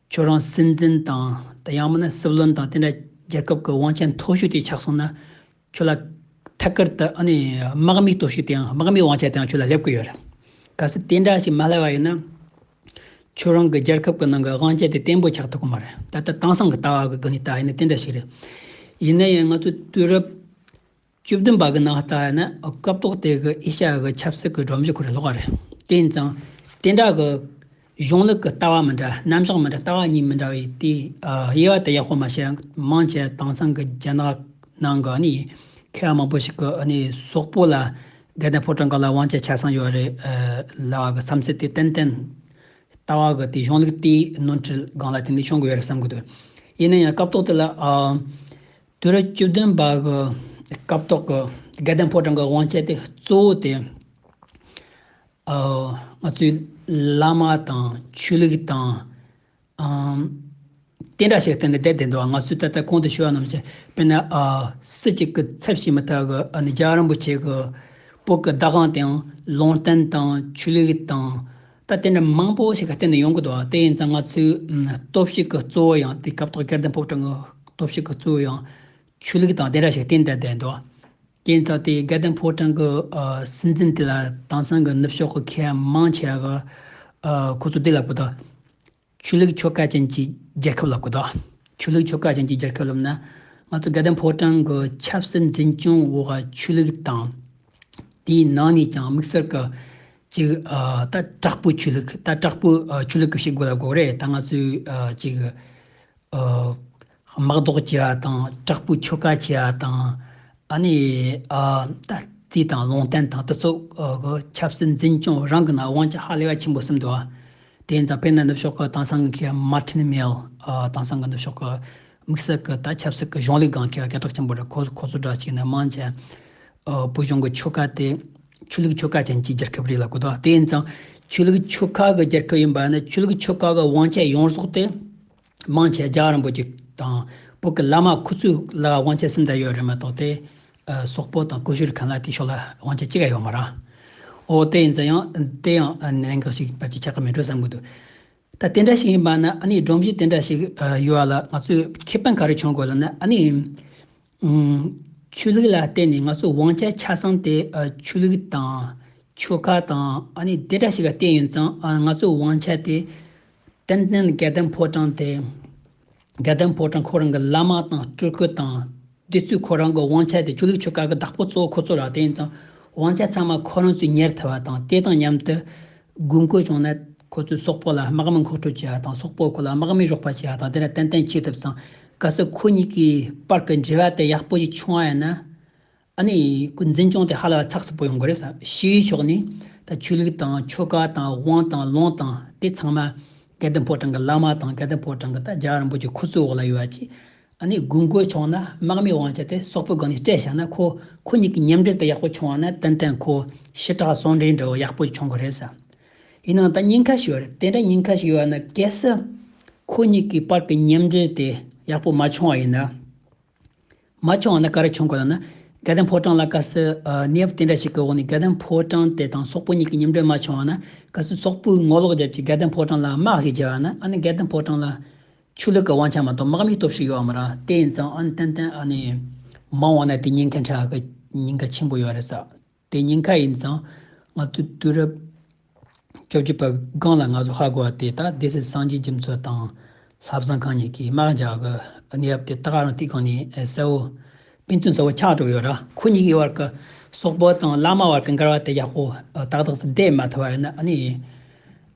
ཁྱོད་རང་སྲིད་འཛིན་དང་དང་ཡང་མིན་ན་སྲིད་བློན་དང་དེ་འདྲ་རྒྱལ་ཁབ་ཀྱི་དབང་ཆ་མཐོ་ཤོས་དེ་ཆགས་སོང་ན་ཁྱོད་ལ་ཐད་ཀར་དུ་ཨ་ནི་དམག་མི་གཏོར་ཤུགས་དེའང་དམག་མིའི་དབང་ཆ་དེའང་ཁྱོད་ལ་སླེབས་ཀྱི་ཡོད་རེད། གལ་སྲིད་དེ་འདྲ་ཞིག་མ་སླེབས་པ་ཡིན་ན། ཁྱོད་རང་གི་རྒྱལ་ཁབ་ཀྱི་ནང་གི་དབང་ཆ་དེ་བརྟན་པོ་ཆགས་ཐུབ་ཀྱི་མ་རེད། ད་ལྟ་དེང་སང་གི་ལྟ་བ་གི་དགོས་ནུས་དག་ཡིན་ན་དེ་འདྲ་ཞིག་རེད། ཡིན་ན་ཡང་ང་ཚོ་དུས་རབས། བཅུ་བདུན་པ་གི་ནང་ལྟར་ན་སྐབས་ཐོག་དེ་གི་ཨེ་ཤ་ཡ་གི་ཆབ་སྲིད་ཀྱི་སྒྲོམ་གཞི་ཁུར་སློག་པ་རེད། དེ་ཡིན་ཙང། དེ་འདྲ་གི་གཞུང་ལུགས་ཀྱི་ལྟ་བ་མི་འདྲ་རྣམ་གཞག་མི་འདྲ་ལྟ་བ་གཉིས་མི་འདྲ་བའི་དེའི་དབྱེ་བ་དེ་ཡག་པོ་མ་ཤེས། མང་ཆེ་དེང་སང་གི་རྒྱ་ནག་ནང་གི་ནི་མཁས་པ་མང་པོ་ཞིག་གི་ནི་སོག་པོ་ལ་རྒྱ་དང་ཕོ་བྲང་ག་ལ་དབང་ཆ་ཆ་ཚང་ཡོད་རེད་ལ་གི་བསམ་ཚུལ་དེ་ཏན་ཏན། ལྟ་བ་གི་དེ་གཞུང་ལུགས་དེའི་ནོར་འཁྲུལ་སྒང་ལ་དེ་འདི་བྱུང་གི་ཡོད་རེད་བསམ་གི་འདུག་ཡིན་ན་ཡང་སྐབས་ཐོག་དེ་ལ། དུས་རབས་བཅུ་བདུན་པ་གི་སྐབས་ཐོག་གི་སྐལ་ལྡན་ཕོ་བྲང་གི་དབང་ཆ་དེ་གཙོ་བོ་དེ། ང་ཚོའི་བླ་མ་དང་ཆོས་ལུགས་དང། དེ་འདྲ་ཞིག་བསྟན་ནས་བསྡད་དེ་འདུག་ང་ཚོའི་ད་ལྟ་གོང་དུ་ཞུ་བ་རྣམས་ཀྱི་དཔེར་ན། སྲིད་ཅིག་གི་ཚབ་བྱས་མ་ཐག་གི་རྒྱ་རིན་པོ་ཆེ་གི་བུ་གི་བདག་དབང་དེའང་ལུང་བསྟན་དང་ཆོས་ལུགས་དང། ད་ལྟའི་འདྲ་མང་པོ་ཞིག་གི་སྟེང་ནས་ཡོང་གི་འདུག་དེ་ཡིན་ཙང་ང་ཚོའི་སྟོབས་ཤུགས་ཀྱི་གཙོ་བོ་ཡང་དེ་སྐབས་ཐོག་སྐལ་ལྡན་ཕོ་བྲང་གི་སྟོབས་ཤུགས་ཀྱི་གཙོ་བོ་ཡང་ཆོས་ལུགས་དང་དེ་འདྲ་ཞིག་སྟེང་དུ་བསྡད་འདུག་དེ་ཡིན་ཙང་དེ་སྐལ་ལྡན་ཕོ་བྲང་གི་སྲིད་འཛིན་དེ་ལ་དེང་སང་གི་ནུབ་ཕྱོགས་ཀྱི་མཁས་དབང་མང་ཆེ་བ་ཁོ་ཚོ་བདེ་ལ་བཀོད་དོ། ཆོས་ལུགས་ཆོལ་ཁ་ཅན་གྱི་རྒྱལ་ཁབ་ལ་གོ་ལྡོག། ཆོས་ལུགས་ཆོལ་ཁ་ཅན་གྱི་རྒྱལ་ཁབ་ལབ་ན། ང་ཚོ་དགའ་ལྡན་ཕོ་བྲང་གི་ཆབ་སྲིད་འཛིན་སྐྱོང་འོག་ཆོས་ལུགས་དང། དེའི་ནང་ནས་ཀྱང་དམིགས་བསལ་གྱི་ཅིག་ལྟ་དྲག་པོའི་ཆོས་ལུགས་ལྟ་དྲག་པོའི་ཆོས་ལུགས་ཞིག་དགོས་ལ་དགོས་རེད་ད་ང་ཚོས་ཅིག་དམག་ཟློག་བྱེད་པ་དང་དྲག་པོའི་ཆོ་ག་བྱེད་པ་དང། ཨ་ནི། ད་རྩིས་དང་ལུང་བསྟན་དང་དུ་ཚོགས། ཆབ་སྲིད་འཛིན་སྐྱོང་རང་གི་ནང་དབང་ཆ་ཧ་ལས་པ་ཆེན་པོ་གསུམ་དུ། དེ་ནས་དཔེར་ན་ནུབ་ཕྱོགས་ཀྱི་དེང་སང་གི་མར་ཏིན་མེལ། དེང་སང་གི་ནུབ་ཕྱོགས་ཀྱི་དམིགས་བསལ་གྱི་ད་ཆབ་སྲིད་ཀྱི་གཞུང་ལུགས་སྒང་གི་སྐད་གྲགས་ཆེན་པོ་རེད་ཁོ་ཚོ་འདྲ་གཅིག་ནི་དམངས་ཆེན། བོད་གཞུང་གི་ཆོ་ག་དེ། ཆོས་ལུགས་ཆོ་ག་ཅན་གྱི་རྒྱལ་ཁབ་རིགས་ལ་གོ་ལྡོག་དེ་ཡིན་ཙང། ཆོས་ལུགས་ཆོ་ག་གི་རྒྱལ་ཁབ་ཡིན་པ་ནི་ཆོས་ལུགས་ཆོ་ག་གི་དབང་ཆ་ཡོངས་རྫོགས་དེ། དམངས་ཆེ་རྒྱ་རིན་པོ་ཆེ་དང་བོད་ཀྱི་བླ་མ་ཁུ་ཚུར་ལ་དབང་ཆ་སུ་འདྲ་ཡོད་རེད་མ་གཏོགས་ཏེ། སོག་པོ་དང་ཀུ་ཤུ་རི་གང་ལ་དེ་ཕྱོགས་ལ་དབང་ཆ་གཅིག་ཀྱང་ཡོད་མ་རང། འོ་དེ་ཡིན་ཙང་ཡང་དེ་ཡང་གནད་འགག་ཞིག་བར་གྱི་ཆ་ཁ་མི་འགྲོ་བསམ་གྱི་འདུག་ད་དེ་འདྲ་ཞིག་ཡིན་པ་ན་ཨ་ནི་སྒྲོམ་གཞི་དེ་འདྲ་ཞིག་ཡོད་ལ་ང་ཚོས་ཁེ་ཕན་ག་རེ་བྱུང་དགོས་ལ་ན་ཨ་ནི། ཆོས་ལུགས་ལ་བརྟེན་ནས་ང་ཚོའི་དབང་ཆ་ཆ་ཚང་དེ་ཆོས་ལུགས་དང། ཆོལ་ཁ་དང་དེ་འདྲ་ཞིག་ལ་བརྟེན་ཡོད་ཙང་ང་ཚོའི་དབང་ཆ་དེ་ཏན་ཏན་དགེ་ལྡན་ཕོ་བྲང་དེ། དགེ་ལྡན་ཕོ་བྲང་ཁོ་རང་གི་བླ་མ་དང་སྤྲུལ་སྐུ་དང། དེ་ཚོས་ཁོ་རང་གི་དབང་ཆ་དེ་ཆོས་ལུགས་ཆོལ་ཁ་གི་བདག་པོ་གཙོ་བོ་ཁོ་ཚོ་ལ་བརྟེན་ཡོད་ཙང་དབང་ཆ་ཚང་མ་ཁོ་རང་ཚོས་གཉེར་ཐུབ་པ་དང་དེ་དང་མཉམ་དུ། དགོས་མཁོ་བྱུང་ན་ཁོ་ཚོས་སོག་པོ་ལ་དམག་མི་མཁོ་སྤྲོད་བྱེད་པ་དང་སོག་པོས་ཁོ་ལ་དམག་མི་གཞོགས་པ་བྱེད་པ་དང་དེ་འདྲ་ཏན་ཏན་བྱེད་ཐུབ་ཙང་གལ་སྲིད་ཁོ་གཉིས་ཀྱི་བར་གྱི་འབྲེལ་བ་དེ་ཡག་པོ་ཞིག་བྱུང་བ་ཡིན་ན། ཨ་ནེ་ཀུན་འཛིན་སྐྱོང་དེ་ཧ་ལས་པ་ཚགས་ཚུད་པོ་ཡོང་གི་རེད་བསམ། ཕྱི་ཡུལ་ཕྱོགས་ནས་ད་ཆོས་ལུགས་དང་ཆོ་ག་དང་དབང་དང་ལུང་དང་དེ་ཚང་མ་གལ་ལྡན་ཕོ་བྲང་གི་བླ་མ་དང་གལ་ལྡན་ཕོ་བྲང་གི་ད་རྒྱ་རིན་པོ་ཆེ་ཁོ་ཚོའི་འོག་ལ་ཡོད་བ་ཅིག་ཨ་ནེ་དགུན་སྒོའི་ཕྱོགས་ན་དམག་མིའི་དབང་ཆ་དེ་སོག་པོའི་སྒང་ནས་སྤྲད་བཞག་ན་ཁོ་ཁོ་གཉིས་ཀྱི་མཉམ་འབྲེལ་དེ་ཡག་པོ་བྱུང་བ་ན་ཏན་ཏན་ཁོ་ཞི་དྲག་ཟུང་འབྲེལ་འབྲེལ་བ་ཡག་པོ་ཞིག་བྱུང་གི་རེད་བསམ། ཡིན་ནའང་ད་སྙིང་ཁ་ཞིག་ཡོད་རེད་དེ་འདྲ་སྙིང་ཁ་ཞིག་ཡོད་ན་གལ་སྲིད། ཁོ་གཉིས་ཀྱི་བར་གྱི་མཉམ་འབྲེལ་དེ་ཡག་པོ་མ་བྱུང་བ་ཡིན་ན། མ་བྱུང་བ་ན་ག་རེ་བྱུང་དགོས་ལབ་ན། དགེ་ལྡན་ཕོ་བྲང་ལ་གལ་སྲིད་གནས་བབ་དེ་འདྲ་ཞིག་གི་འོག་ནས་དགེ་ལྡན་ཕོ་བྲང་དེ་དང་སོག་པོ་གཉིས་ཀྱི་མཉམ་འབྲེལ་མ་བྱུང་བ་ན་གལ་སྲིད་སོག་པོས་ངོ་ལོག་བརྒྱབ་ཀྱི་དགེ་ལྡན་ཕོ་བྲང་ལ་དམག་ཞིག་བརྗེ་བ་ན་ཨ་ནི་དགེ་ལྡན་ཕོ་བྲང་ལ། ཆོས་ལུགས་ཀྱི་དབང་ཆ་མ་གཏོགས་དམག་མིའི་སྟོབས་ཤུགས་ཡོད་མི་རང་དེ་ཡིན་ཙང་ཨ་ནི་ཏན་ཏན་ཨ་ནི། མང་བ་ན་དེ་སྙིང་ཁའི་འཕྲལ་གྱི་སྙིང་ཁ་ཆེན་པོ་ཡོད་རེད་ས། དེ་སྙིང་ཁ་ཡིན་ཙང་ང་ཚོ་དུས་རབས་བཅོ་བརྒྱད་པ་སྒང་ལ་ང་ཚོ་ཧ་གོ་བ་དེ་དག་སྡེ་སྲིད་སངས་རྒྱས་རྒྱུ་མཚོ་དང་ལྷ་བཟང་གང་གཉིས་ཀྱིས་དམག་འཇགས་ཀྱི་གནས་བབ་དེ་དག་རང་ཐིག་གང་ནས་གསལ་བོ་དཔེ་མཚོན་གསལ་བོ་ཆགས་གྲུབ་ཡོད་ར་ཁོ་གཉིས་ཀྱི་བར་གྱི་སོག་པོ་དང་བླ་མ་བར་གྱི་འགལ་བ་དེ་ཡག་པོ་ཏག་ཏག་སུ་བསྡད་མ་ཐུབ་པ་ཡིན་ན་ནི་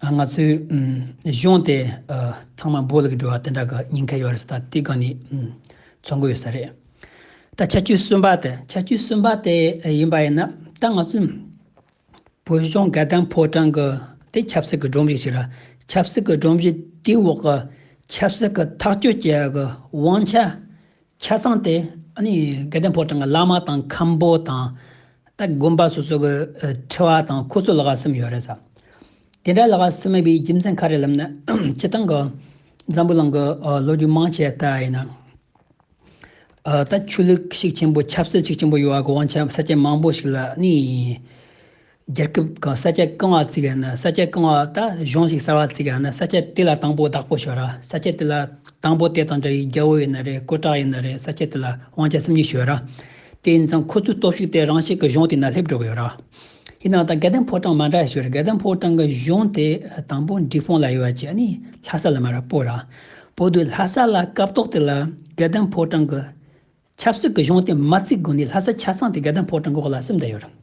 ང་ཚོའི་གཞུང་དེ་ཚང་མ་འབོ་ལུག་གི་འགྲོ་བ་དེ་འདྲ་གི་སྙིང་ཁ་ཡོད་རེད་ས་ཐིག་གང་ནས་མཚོན་གྱི་ཡོད་ས་རེད། ད་ཆ་བཅུ་གསུམ་པ་དང་ཆ་བཅུ་གསུམ་པ་དེ་ཡིན་པ་ཡིན་ན་ད་ང་ཚོས་བོད་གཞུང་སྒེར་དང་ཕོ་བྲང་གི་དེ་ཆབ་སྲིད་ཀྱི་སྒྲོམ་གཞི་ཞིག་རེད་ཆབ་སྲིད་ཀྱི་སྒྲོམ་གཞི་དེའི་འོག་གི་ཆབ་སྲིད་ཀྱི་ཐག་གཅོད་བྱེད་ཡག་གི་དབང་ཆ་ཆ་ཚང་དེ་སྒེར་དང་ཕོ་བྲང་གི་བླ་མ་དང་ཁམས་པོ་དང་ད་དགོན་པ་སོ་སོ་གི་ཁྲི་བ་དང་ཁོ་ཚོ་ལ་ག་སེམས་ཡོད་རེད་ས་དེ་འདྲ་ལ་ག་སེམས་མེད་པའི་རྒྱུ་མཚན་ག་རེ་ལབ་ན་ཁྱེད་རང་གི་འཛམ་བུ་གླིང་གི་ལོ་རྒྱུས་མང་ཆེ་ད་ཡིན་ན། ད་ཆུ་ལུག་གཤེགས་ཆེན་པོ་ཆབ་སྲིད་གཤེགས་ཆེན་པོ་ཡོད་ག་གོང་ཆབ་ས་སྐྱ་མང་པོ་ཞིག་ལ་གནས་ཡིན། རྒྱལ་ཁབ་གང་ས་སྐྱ་བཀང་བ་བརྩིགས་ཡ་ན་ས་སྐྱ་བཀང་བ་ད་གཞུང་ཞིག་གསར་བ་བརྩིགས་ཡ་ན་ས་སྐྱ་དེ་ལ་དང་པོ་བདག་པོ་ཞོ་ར་ས་སྐྱ་དེ་ལ་དང་པོ་དེ་དང་འདྲ་ཡི་རྒྱལ་བོ་ཡིན་ན་རེད་ཀོ་ཀྲག་ཡིན་ན་རེད་ས་སྐྱ་དེ་ལ་དབང་ཆ་སེམས་ཉིད་ཞོ་ར། དེ་ཡིན་ཙང་ཁོ་ཚོའི་སྟོབས་ཤུགས་དེ་རང་ཤེད་ཀྱི་གཞུང་དེ་ན་སླེབས་འགྲོ་གི་ཡོད་ར། ཡིན་ནའང་ད་སྒེར་དོན་ཕོ་བྲང་མ་འདྲ་ཞིག་རེད་སྒེར་དོན་ཕོ་བྲང་གི་གཞུང་དེ་དང་པོ་འབྲི་སྤུངས་ལ་ཡོད་བ་ཅིག་ནི་ལྷ་ས་ལ་མ་རེད་པོ་ར་བོ་དུ་ལྷ་ས་ལ་སྐབས་ཏོག་དེ་ལ་སྒེར་དོན་ཕོ་བྲང་གི་ཆབ་སྲིད་གི་གཞུང་དེ་མ་བརྩིགས་གོང་ནས་ལྷ་ས་ཆ་ཚང་དེ་སྒེར་དོན་ཕོ་བྲང་གི་འོག་ལ་སིམ་ད་ཡོད་རེད་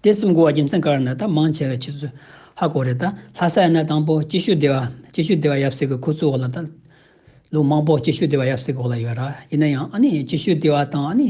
དེ་སིམ་དགོས་བ་རྒྱུ་མཚན་ག་རེ་ན་ད་མང་ཆེ་བའི་ཕྱི་སུ་ཧ་གོ་རེད་ད་ལྷ་ས་ཡིན་ན་དང་པོ་སྐྱིད་ཤོད་སྡེ་བ་སྐྱིད་ཤོད་སྡེ་བ་ཡབ་སྲས་ཀྱི་ཁུ་ཚུར་འོག་ལ་ད་ལོ་མང་པོ་སྐྱིད་ཤོད་སྡེ་བ་ཡབ་སྲས་ཀྱི་འོག་ལ་ཡོད་ར་ཡིན་ན་ཡང་ཨ་ནི་སྐྱིད་ཤོད་སྡེ་བ་དང་ཨ་ནི་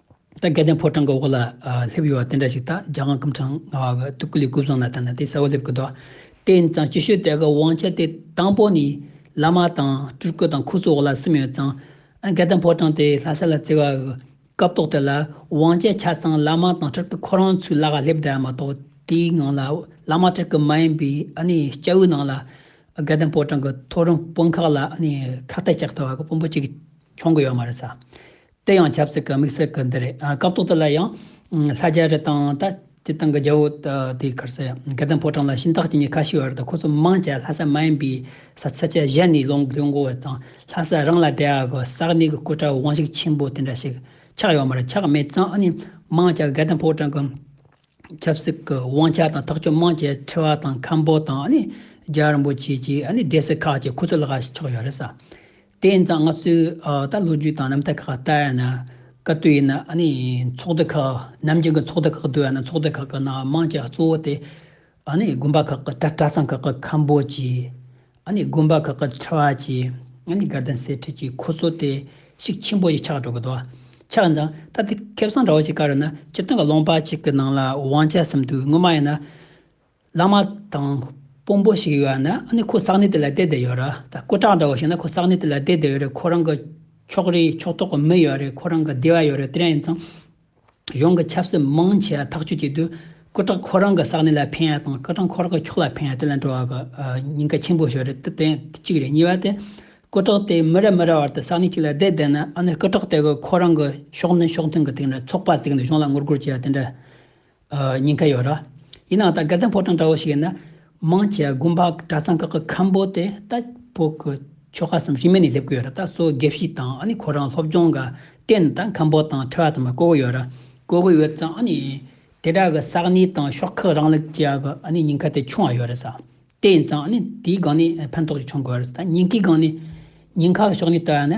ད་སྐལ་ལྡན་ཕོ་བྲང་གི་འོག་ལ་སླེབས་ཡོད་བ་དེ་འདྲ་ཞིག་དང་རྒྱ་གང་སྐུ་ཕྲེང་ལྔ་བ་གི་ཐུགས་ཀུ་ལི་ཀུ་བཟང་ན་ད་ནི་དེ་ས་བོ་སླེབས་ཀི་འདུག་དེ་ཡིན་ཙང་ཅི་ཞུ་དེ་གི་དབང་ཆ་དེ་དང་པོ་ནི་བླ་མ་དང་སྤྲུལ་སྐུ་དང་འཁོར་ཚོགས་འོག་ལ་སིམ་ཡོད་ཙང་སྐལ་ལྡན་ཕོ་བྲང་དེ་ལྷ་ས་ལ་བརྩི་བ་གི་སྐབས་ཐོག་དེ་ལ་དབང་ཆ་ཆ་ཚང་བླ་མ་དང་སྤྲུལ་སྐུ་ཁོ་རང་ཚོའི་ལག་ལ་སླེབས་དེ་མ་གཏོགས་དེའི་ངང་ལ་བླ་མ་སྤྲུལ་སྐུ་མ་ཡིན་པའི་ཨ་ནི་སྐྱ་བོའི་ནང་ལ་སྐལ་ལྡན་ཕོ་བྲང་གི་ཐོ་རངས་དཔོན་ཁག་ལ་ཨ་ནི་ཁག་ཐེག་ཅག་ཐུབ་བ་གི་དཔོན་པོ་གཅིག་འཁྱོང་གི་ཡོད་མ་རེད་ས་དེ་ཡང་ཆབ་སྲིད་ཀྱི་དམིགས་བསལ་གྱི་འདི་རེད་སྐབས་ཐོག་དེ་ལ་ཡང། ལྷ་རྒྱལ་རི་དང་ད་ལྟའི་ཏང་གི་རྒྱལ་བོ་དེའི་ཁར་སེ་དགེ་ལྡན་ཕོ་བྲང་ལ་ཤིང་རྟགས་ཀྱི་གཉིས་ཁ་ཞིག་ཡོད་རེད་ད་ཁོ་ཚོ་མང་ཆེ་ལྷ་སར་མ་ཡིན་པའི་ས་ཚིགས་ཆ་གཞན་ནས་ཡོང་དགོས་འགོ་བས་ཙང་ལྷ་སར་རང་ལ་དད་ཡ་གི་ས་གནས་ཀྱི་སྐུ་དྲག་དབང་ཤུགས་ཆེན་པོ་དེ་འདྲ་ཞིག་ཆགས་ཡོད་མ་རེད་ཆགས་མེད་ཙང་ཨ་ནི་མང་ཆེ་དགེ་ལྡན་ཕོ་བྲང་གི་ཆབ་སྲིད་ཀྱི་དབང་ཆ་དང་ཐག་གཅོད་མང་ཆེ་ཁྲི་བ་དང་མཁན་པོ་དང་ཨ་ནི་རྒྱལ་བ་རིན་པོ་ཆེ་བཅས་ཨ་ནི་སྡེ་སྲིད་ཁག་ཅིག་ཁོ་ཚོའི་ལག་ཆགས་ཡོད་རེད་ས་དེ་ཡིན་ཙང་སྔ་སྲོལ་ལྟར་ལོ་རྒྱུས་དང་རྣམ་ཐར་ཁག་ལྟར་ཡང་ན་བཀའ་བསྟོད་ཡིན་ན་ནི་ཚོགས་སྡེ་ཁག་ནམ་རྒྱུན་གྱི་ཚོགས་སྡེ་ཁག་ཏུ་ཡང་ན་ཚོགས་སྡེ་ཁག་གི་ནང་དམངས་ཀྱི་གཙོ་བོ་དེ་དགོན་པ་ཁག་གི་གྲྭ་ཚང་ཁག་གི་ཁམས་བོད་ཀྱི་དགོན་པ་ཁག་གི་ཁྲི་བ་ཀྱི་དགའ་ལྡན་སེར་ཁྲི་ཀྱི་འཁོར་ཚོགས་དེ་ཤིག་ཆེན་པོ་ཞིག་ཆགས་འགྲོ་གི་འདུག་ཆགས་ཡིན་ཙང་ད་ལྟའི་ཁེ་བཟང་འདྲ་བོ་ཞིག་བཀར་ཡོད་ན་སྤྱིར་བཏང་གི་ལུང་པ་གཅིག་གི་ནང་ལ་དབང་ཆ་གསུམ་འདུག་སྔོན་མ་ཡིན་ན། བླ་མ་དང་དཔོན་པོ་ཞིག་ཡོད་ན་ནི་ཁོ་གསང་གནས་དེ་ལ་བསྡད་དེ་ཡོད་རེད་ད་སྐུ་དྲག་འདྲ་བོ་ཞིག་ན་ཁོ་གསང་གནས་དེ་ལ་བསྡད་དེ་ཡོད་རེད་ཁོ་རང་གི་ཕྱོགས་རིས་ཕྱོགས་གཏོགས་ཀྱི་མི་ཡོད་རེད་ཁོ་རང་གི་སྡེ་བ་ཡོད་རེད་དེ་འདྲ་ཡིན་ཙང། གཞུང་གི་ཆབ་སྲིད་མང་ཆེ་བ་ཐག་གཅོད་བྱེད་དུས་སྐུ་དྲག་ཁོ་རང་གི་གསང་གནས་ལ་ཕན་ཡ་དང་སྐུ་དྲག་ཁོ་རང་གི་ཕྱོགས་ལ་ཕན་ཡ་དེ་ལ་འགྲོ་བ་གི་ཉེན་ཁ་ཆེན་པོ་ཞིག་རེད་དེ་གཅིག་རེད་གཉིས་པ་དེ། སྐུ་དྲག་དེ་མི་རེ་མི་རེ་བར་དུ་གསང་གནས་གཅིག་ལ་བསྡད་བསྡད་ན་ནི་སྐུ་དྲག་དེ་གི་ཁོ་རང་གི་ཕྱོགས་མདུན་ཕྱོགས་མཐུན་གྱི་སྟེང་ནས་ཚོགས་པ་བཙུགས་ནས་གཞུང་ལ་ངོ་རྒོལ་བྱེད་ཡ་དེ་འདྲ། ཉེན་ཁ་ཡོད་ར། ཡིན་ནའང་ད་སྐལ་ལྡན་ཕོ་བྲང་འདྲ་བོ་ཞིག་ཡིན་ན། མང་ཆེ་བ་དགོན་པ་གྲྭ་ཚང་ཁག་གི་ཁམས་པོ་དེ་ལྟ་བུ་གི་ཆོ་ག་སམ་གཞི་མེད་ནས་སླེབས་ཀྱི་ཡོད་ར་ད་གཙོ་བོ་དགེ་བཤེས་དང་ཨ་ནི་ཁོ་རང་སློབ་སྦྱོང་ག་སྟེ་ནི་ད་ཁམས་པོ་དང་འཕྲད་བ་དང་མ་བསྐོ་གི་ཡོད་ར། བསྐོ་གི་ཡོད་ཙང་ཨ་ནི། དེ་དག་གི་ས་གནས་དང་ཤོག་ཁག་རང་ལུགས་ཀྱི་གི་ཨ་ནི་ཉེན་ཁ་དེ་ཆུང་བ་ཡོད་རེད་ས། དེ་ཡིན་ཙང་ཨ་ནི་དེའི་སྒང་ནས་ཕན་ཐོགས་ཅིག་བྱུང་དགོས་རེད་ས་ད་ཉེན་ཁའི་སྒང་ནས། ཉེན་ཁ་གི་ཕྱོགས་ནས་ལྟ་བ་ནི།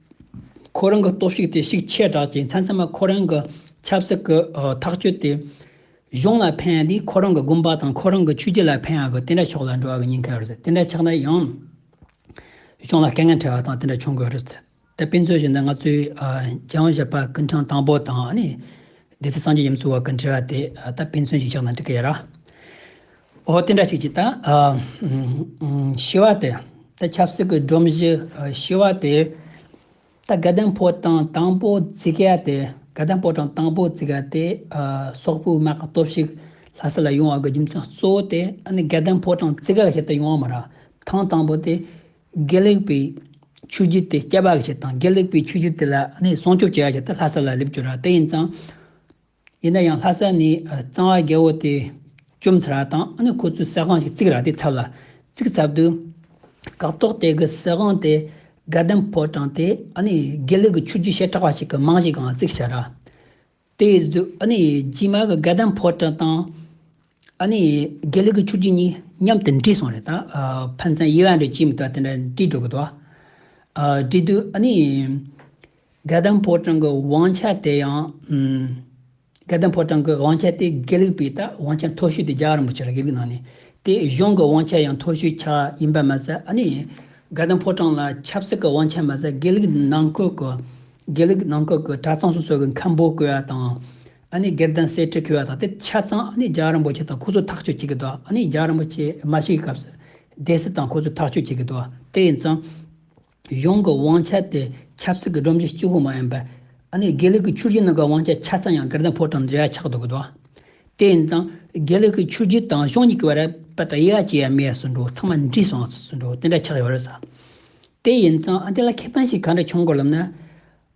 ཁོ་རང་གི་སྟོབས་ཤུགས་དེ་ཤུགས་ཆེ་དྲགས་ཀྱིས་མཚན་མཚན་མ་ཁོ་རང་གི་ཆབ་སྲིད་ཀྱི་ཐག་གཅོད་དེ་གཞུང་ལ་ཕན་ཡང་དེས་ཁོ་རང་གི་དགོན་པ་དང་ཁོ་རང་གི་ཆོས་རྒྱུད་ལ་ཕན་ཡང་གི་དེ་འདྲ་ཕྱོགས་ལ་འགྲོ་བ་གི་ཉེན་ཁ་ཡོད་རེད་དེ་འདྲ་ཆགས་ན་ཡང་གཞུང་ལ་དཀའ་ངལ་འཕྲད་པ་དང་དེ་འདྲ་བྱུང་དགོས་རེད། དེ་ཕན་ཚུན་བཞིན་ན་ང་ཚོའི་རྒྱལ་ཡོངས་གཞས་པ་ཀུན་ཁྲང་དང་པོ་དང་ནི་སྡེ་སྲིད་སངས་རྒྱས་ཡུམ་ཚུལ་བ་ཀྱི་འབྲེལ་བ་དེ་ད་ཕན་ཚུན་བཞིན་ཆགས་ན་འགྲིག་གི་ཡོད་ར། འོ་དེ་འདྲ་ཞིག་བྱེད་དང། ཤི་བ་དེ་ད་ཆབ་སྲིད་ཀྱི་སྒྲོམ་གཞི་ཤི་བ་དེ་ད་དགའ་ལྡན་ཕོ་བྲང་དང་པོ་བརྩི་ག་དེ་དགའ་ལྡན་ཕོ་བྲང་དང་པོ་བརྩི་ག་དེ་སོག་པོའི་དམག་གི་སྟོབས་ཤིག་ལྷ་ས་ལ་ཡོང་བ་གི་རྒྱུ་མཚན་གཙོ་བོ་དེ་ཨ་ནི་དགའ་ལྡན་ཕོ་བྲང་བརྩི་ག་གི་ཆེད་དུ་ཡོང་བ་མ་རག་ཐང་དང་པོ་དེ་དགེ་ལེགས་པའི་ཆོས་བརྒྱུད་དེ་སྐྱེད་པ་གི་ཆེད་དང་དགེ་ལེགས་པའི་ཆོས་བརྒྱུད་དེ་ལ་ནི་སྲུང་སྐྱོབ་བྱེད་ཡ་ཆེད་དུ་ལྷ་ས་ལ་སླེབས་རྒྱུ་ར་དེ་ཡིན་ཙང། ཡིན་ན་ཡང་ལྷ་ས་ནས་གཙང་བ་རྒྱལ་བོ་དེ་བཅོམ་ཚར་བ་དང་ཨ་ནི་ཁོ་ཚོས་ཟས་ཁང་ཞིག་བརྩིགས་རག་དེ་ཚབ་ལ་བརྩིགས་ཚབ་ཏུ། སྐབས་ཐོག་དེ་གི་ཟས་ཁང་དེ་སྒ་ལྡེམ་ཕོ་བྲང་དེ་ཨ་ནི་དགེ་ལུགས་ཀྱི་ཆོས་བརྒྱུད་བྱེ་བྲག་པ་ཞིག་གི་རྨང་གཞིའི་སྒང་བརྩིགས་ཚར། དེའི་གཟུགས་ཨ་ནི་རྗེས་མ་གི་སྒ་ལྡེམ་ཕོ་བྲང་དང། ཨ་ནི། དགེ་ལེགས་ཀྱི་ཆུ་རྒྱུན་གཉིས་མཉམ་དུ་འདྲིས་སོང་རེད་ད། ཕན་ཚན་དབྱེ་བ་འདྲ་ཅི་མི་རྟག་དེ་འདྲ་འདྲིས་འགྲོ་གི་འདུག་ཨ། འདྲིས་འདུག་ཨ་ནི། དགེ་ལྡན་ཕོ་བྲང་གི་དབང་ཆ་དེ་ཡང། དགེ་ལྡན་ཕོ་བྲང་གི་དབང་ཆ་དེ་དགེ་ལེགས་པའི་ད་དབང་ཆ་མཐོ་ཤོས་དེ་རྒྱ་གར་རིན་པོ་ཆེ་ལ་དགེ་ལེགས་གནང་ནས། དེ་གཞུང་གི་དབང་ཆ་ཡང་མཐོ་ཤོས་ཆགས་ཡིན་པ་མ་ཟད་ཨ་ནི། དགེ་ལྡན་ཕོ་བྲང་ལ་ཆབ་སྲིད་ཀྱི་དབང་ཆ་མ་ཟད་དགེ་ལེགས་ནང་ཁུལ་གྱི། དགེ་ལེགས་ནང་ཁུལ་གྱི་གྲྭ་ཚང་སོ་སོ་གི་མཁན་པོ་བསྐོས་པ་དང། ཨ་ནི་སྒེར་དང་སའི་ཁྲི་འཁྱོལ་བ་དང་དེ་ཆ་ཚང་ཨ་ནི་རྒྱ་རིན་པོ་ཆེ་དང་ཁོ་ཚོ་ཐག་གཅོད་བྱེད་ཀྱི་འདུག་ཨ་ནི་རྒྱ་རིན་པོ་ཆེ་མ་ཞིག་གི་སྐབས་སུ། སྡེ་སྲིད་དང་ཁོ་ཚོ་ཐག་གཅོད་བྱེད་ཀྱི་འདུག་དེ་ཡིན་ཙང། གཞུང་གི་དབང་ཆ་དེ་ཆབ་སྲིད་ཀྱི་སྒྲོམ་གཞི་གཅིག་པུ་མ་ཡིན་པར། ཨ་ནི་དགེ་ལུགས་ཀྱི་ཆུ་བཞི་ནང་གི་དབང་ཆ་ཆ་ཚང་ཡང་སྒེར་དང་ཕོ་བྲང་འབྲེལ་བ་ཆགས་འདུག་གི་འདུག་དེ་ཡིན་ཙང། དགེ་ལུགས་ཀྱི་ཆུ་བཞི་དང་གཞུང་གཉིས་ཀྱི་བར་པད་དང་གཡས་བཅས་ཡང་མེད་ཟེར་འདུག་ཚང་མ་འདྲིས་སོང་ཟེར་འདུག་དེ་འདྲ་ཆགས་ཡོད་རེད་ཟེར། དེ་ཡིན་ཙང་ཨ་དེ་ལ་ཁེ་ཕན་ཞིག་ག་འདྲ་བྱུང་དགོས་ལབ་ན།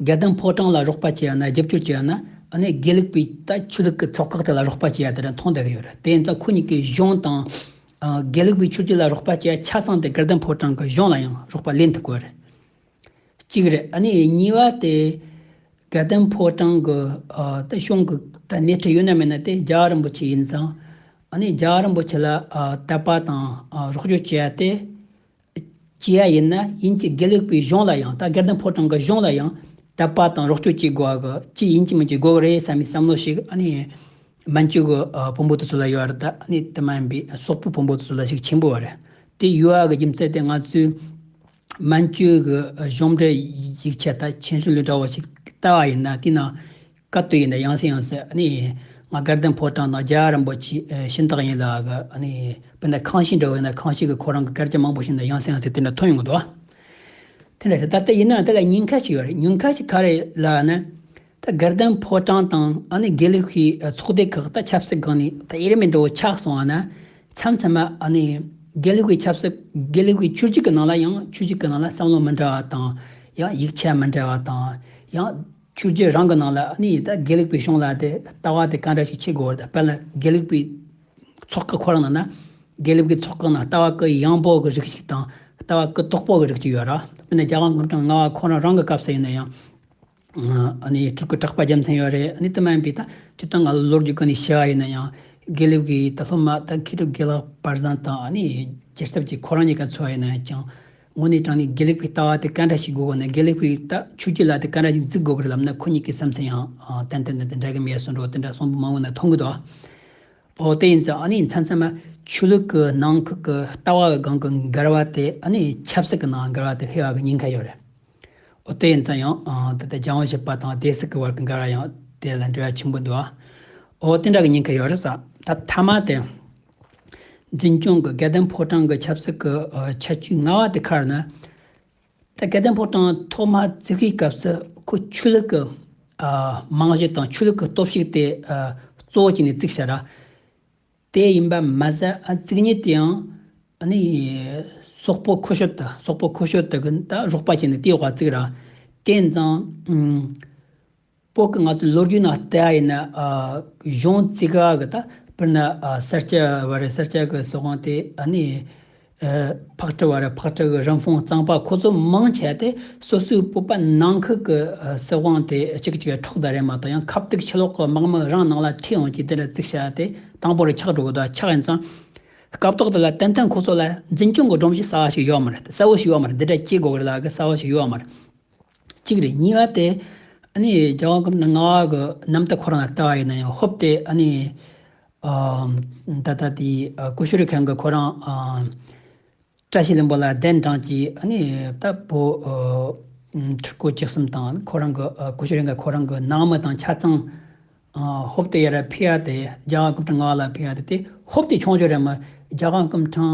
རྒྱལ་གདམས་ཕོ་བྲང་ལ་རོགས་པ་བྱེད་ཡ་ན་རྒྱབ་སྐྱོར་བྱེད་ཡ་ན་ཨ་ནེ་དགེ་ལེགས་པའི་ད་ཆོས་ལུགས་ཀྱི་ཚོགས་ཁག་དེ་ལ་རོགས་པ་བྱེད་ཡ་དེ་རིང་མཐོང་བསྡད་ཀྱི་ཡོད་རེད་དེ་ཡིན་ཙང་ཁོ་གཉིས་ཀྱི་གཞུང་དང། དགེ་ལེགས་པའི་ཆོས་རྒྱུད་ལ་རོགས་པ་བྱེད་ཡ་ཆ་ཚང་དེ་རྒྱལ་གདམས་ཕོ་བྲང་གི་གཞུང་ལ་ཡང་རོགས་པ་ལེན་ཐུབ་དགོས་རེད། གཅིག་རེད་ཨ་ནེ་གཉིས་བ་དེ། རྒྱལ་གདམས་ཕོ་བྲང་གི་ད་གཞུང་གི་ད་སྣེ་ཁྲིད་ཡོད་ན་མེད་ན་དེ་རྒྱ་རིན་པོ་ཆེ་ཡིན་ཙང་ཨ་ནེ་རྒྱ་རིན་པོ་ཆེ་ལ་དད་པ་དང་རོགས་སྐྱོར་བྱེད་ཡ་དེ། བྱེད་ཡ་ཡིན་ན་ཡིན་གྱི་དགེ་ལེགས་པའི་གཞུང་ལ་ཡང་དག་སྒེར་དོན་ཕོ་བྲང་གི་གཞུང་ལ་ཡང་དད་པ་དང་རོགས་སྐྱོར་བྱེད་དགོས་བ་གི་ཅི་ཡིན་ཅི་མིན་གྱི་དགོས་བ་རེད་བསམ་པའི་བསམ་བློ་ཞིག་ཨ་ནི་སྨན་བཅོས་ཀྱི་བོན་པོ་དེ་ཚོ་ལ་ཡོད་རེད་ད་ཨ་ནི་དེ་མ་ཡིན་པའི་སོག་པོའི་བོན་པོ་དེ་ཚོ་ལ་ཞིག་ཆེན་པོ་བ་རེད་དེ་ཡོད་བ་གི་རྒྱུ་མཚན་དེ་ང་ཚོའི་སྨན་བཅོས་ཀྱི་གཞུང་འབྲེལ་ཡིག་ཆ་དང་མཆན་ཞུ་ལུས་འདྲ་བོ་ཞིག་བལྟ་བ་ཡིན་ན་དེའི་ནང་སྐབས་དེ་ཡིན་ན་ཡང་སྲིད་ཡང་སྲིད་ཨ་ནི། ང་སྐལ་ལྡན་ཕོ་བྲང་ནང་རྒྱ་རིན་པོ་ཆེའི་གཤིན་རྟགས་ཡིན་ལགས། ཨ་ནི། དཔེར་ན་ཁང་ཤིང་འདྲ་བས་ན་ཁང་ཤིང་གི་ཁོ་རང་གི་སྐལ་ལྕེ་མང་པོ་ཞིག་ནི་ཡང་སྲིད་ཡང་སྲིད་དེ་འདྲ་ཐོན་ཡོང་གི་འདུག་ཨ། དེ་འདྲ་རེད་ད་ལྟ་ཡིན་ན་དེ་ལ་ཉེན་ཁ་ཞིག་ཡོད་རེད་ཉེན་ཁ་ཞིག་ག་རེད་ལགས་ན། ད་སྐལ་ལྡན་ཕོ་བྲང་དང་ཨ་ནི་དགེ་ལུགས་ཀྱི་ཚོགས་སྡེ་ཁག་ད་ཆབ་སྲིད་སྒང་ནས་ད་དབྱེར་མེད་འདྲ་བོ་ཆགས་སོང་ཨ་ན། མཚམས་མཚམས་མ་ཨ་ནི། དགེ་ལུགས་ཀྱི་ཆབ་སྲིད་དགེ་ལུགས་ཀྱི་ཆོས་ཅིག་གི་ནང་ལ་ཡང་ཆོས་ཅིག་གི་ནང་ལ་བསམ་བློ་མི་འདྲ་བ་དང། ཡང་ཡིག་ཆ་མི་འདྲ་བ་དང། ཡང། ཆུ་རྒྱལ་རང་གི་ནང་ལ་ནི་ད་དགེ་ལེགས་པའི་གཞུང་ལ་དེ་ལྟ་བ་དེ་ག་འདྲ་ཞིག་བྱེད་དགོས་པར་ད་ལ་དགེ་ལེགས་པའི་ཚོགས་ཀྱི་ཁོ་རང་ན་ན་དགེ་ལེགས་པའི་ཚོགས་ཀྱི་ནང་ལྟ་བ་ཀྱི་ཡངས་པོ་གི་རིགས་ཤིག་དང་ལྟ་བ་ཀྱི་དོག་པོ་གི་རིགས་ཅིག་ཡོད་ར་དཔེར་ན་རྒྱ་དབང་གྲགས་ལྔ་བ་ཁོ་རང་རང་གི་སྐབས་སུ་ཡིན་ན་ཡང། ནི་དྲུག་གི་གྲགས་པ་རྒྱལ་མཚན་ཡོད་རེད་ནི་དེ་མ་ཡིན་པའི་ད་བཅུ་དང་ལྔ་ལོ་རྒྱུས་ཀྱི་ནི་བྱ་བ་ཡིན་ན་ཡང་དགེ་ལེགས་པའི་ད་སློབ་མ་ད་མཁས་གྲུབ་དགེ་ལགས་པར་བཟང་དང་ནི་རྒྱལ་ཚབ་ཀྱི་ཁོ་རང་གཉིས་ཀ་འཚོལ་བ་ཡིན་ན་ཅིང། དངོས་གནས་ཀྱང་ནི་དགེ་ལེགས་པའི་ལྟ་བ་དེ་ག་འདྲ་ཞིག་དགོས་གོ་ན་དགེ་ལེགས་པའི་ལྟ་ཆོས་ཀྱི་ལ་དེ་ག་འདྲ་ཞིག་འཛིན་དགོས་པར་ལབ་ན་ཁོ་གཉིས་ཀྱི་བསམ་ཚུལ་ཡང་ཏན་ཏན་ཏན་ཏན་འདྲ་གི་མེད་གསུང་སྒྲོག་དེ་འདྲ་གསུང་པོ་མང་བོ་ན་མཐོང་གི་འདུག་ཨོ་དེ་ཡིན་ཚེ་ཨ་ནི་མཚན་མཚན་མ་ཆོས་ལུགས་ཀྱི་ནང་ཁུག་གི་ལྟ་བ་བའི་སྒང་གི་འགལ་བ་དེ་ཨ་ནི་ཆབ་སྲིད་ཀྱི་ནང་འགལ་བ་དེ་ལྷེ་བ་གི་ཉེན་ཁ་ཡོད་རེད་ཨོ་དེ་ཡིན་ཚེ་ཡང་ད་ལྟ་རྒྱ་དབང་ཞེས་པ་དང་དེ་སྲིད་ཀྱི་བར་གྱི་འགལ་བ་ཡང་དེ་ལ་འབྲེལ་བ་ཆེན་པོ་འདུག་ཨོ་དེ་འདྲ་གི་ཉེན་ཁ་ཡོད་རེད་ས་ད་མཐའ་མ་དེ། འཛིན་སྐྱོང་གི་སྐལ་ལྡན་ཕོ་བྲང་གི་ཆབ་སྲིད་ཀྱི་ཆ་རྒྱུས་སྔ་བ་དེ་ཁར་ན། ད་སྐལ་ལྡན་ཕོ་བྲང་ཐོག་མར་བཙུགས་ཤིང་སྐབས་སུ་ཁོ་ཆོས་ལུགས་ཀྱི་རྨང་གཞི་དང་ཆོས་ལུགས་ཀྱི་སྟོབས་ཤུགས་དེ་གཙོ་བོ་བྱས་ནས་བཙུགས་ས་ར་དེ་ཡིན་པ་མ་ཟད་བཙུགས་ཉིན་དེའང་ནི་སོག་པོ་ཁོ་ཤོར་དང་སོག་པོ་ཁོ་ཤོར་དག་གི་རོགས་པ་བྱས་ནས་དེའི་འོག་བཙུགས་ར་དེ་ཙང། པོ་ཀི་ང་ཚོ་ལོ་རྒྱུས་ནང་བལྟས་ཨ་ཡིན་ན་གཞུང་བརྩི་ག་གི་ད་པིར་ན་སར་སྐྱ་བ་རེད་སར་སྐྱ་གི་སྲིད་དབང་དེ་ཨ་ནི་ཕག་ཁྲི་བ་རེད་ཕག་ཁྲི་གི་རིན་ཕུང་གཙང་པ་ཁོ་ཚོ་མང་ཆེ་སྟེ་སོ་སོའི་སྤོབས་པ་ནང་ཁུལ་གི་སྲིད་དབང་དེ་གཅིག་གཅིག་གི་ཕྲོག་ད་རེད་མ་གཏོགས་ཡང་ཁབ་སྟེགས་ཕྱི་ལོག་གི་དམག་མི་རང་ནང་ལ་ཁྲིད་ཡོང་གྱིས་དེ་ལ་བརྩིག་བྱ་དེ་དང་པོ་རུ་ཆགས་འགྲོ་གི་འདུག་ཆགས་ཡིན་ཙང་སྐབས་ཐོག་དེ་ལ་ཏན་ཏན་ཁོ་ཚོ་ལ་འཛིན་སྐྱོང་གི་སྒྲོམ་གཞི་གསར་བ་ཞིག་ཡོད་མ་རེད་གསལ་བོ་ཞིག་ཡོད་མ་རེད་འདི་འདྲ་སྐྱེ་དགོས་གི་རེད་ལ་གི་གསལ་བོ་ཞིག་ཡོད་མ་རེད། གཅིག་རེ་གཉིས་པ་དེ། རྒྱལ་དབང་སྐབས་ན་རྔ་བ་གི་གནམ་སྟག་ཁོ་རང་ལ་བལྟ་བ་ཡིན་ན་ཡང་ཧོབ་སྟེ། ད་ལྟ་དེ་ཀུ་ཤུ་རི་ཁང་གི་ཁོ་རང་བཀྲ་ཤིས་གླིང་པ་ལ་གདན་དྲངས་ཀྱིས་ད་བོ། ཕྲུ་གུ་བཅུ་གསུམ་དང་ཁོ་རང་གི་ཀུ་ཤུ་རི་འགའ་ཁོ་རང་གི་ནང་མི་དང་ཆ་ཚང། ཧཱུྃ་ཏེ་ཡེ་ར་བྷི་ཡ་ཏེ་རྒྱ་གང་ཀུན་འབྲུ་ལྔ་ལ་བྷི་ཡ་ཏེ། ཧཱུྃ་ཏེ་ཕྱོགས་བཅུ་རེ་མོ་རྒྱ་གང་ཀུན་འབྲུ་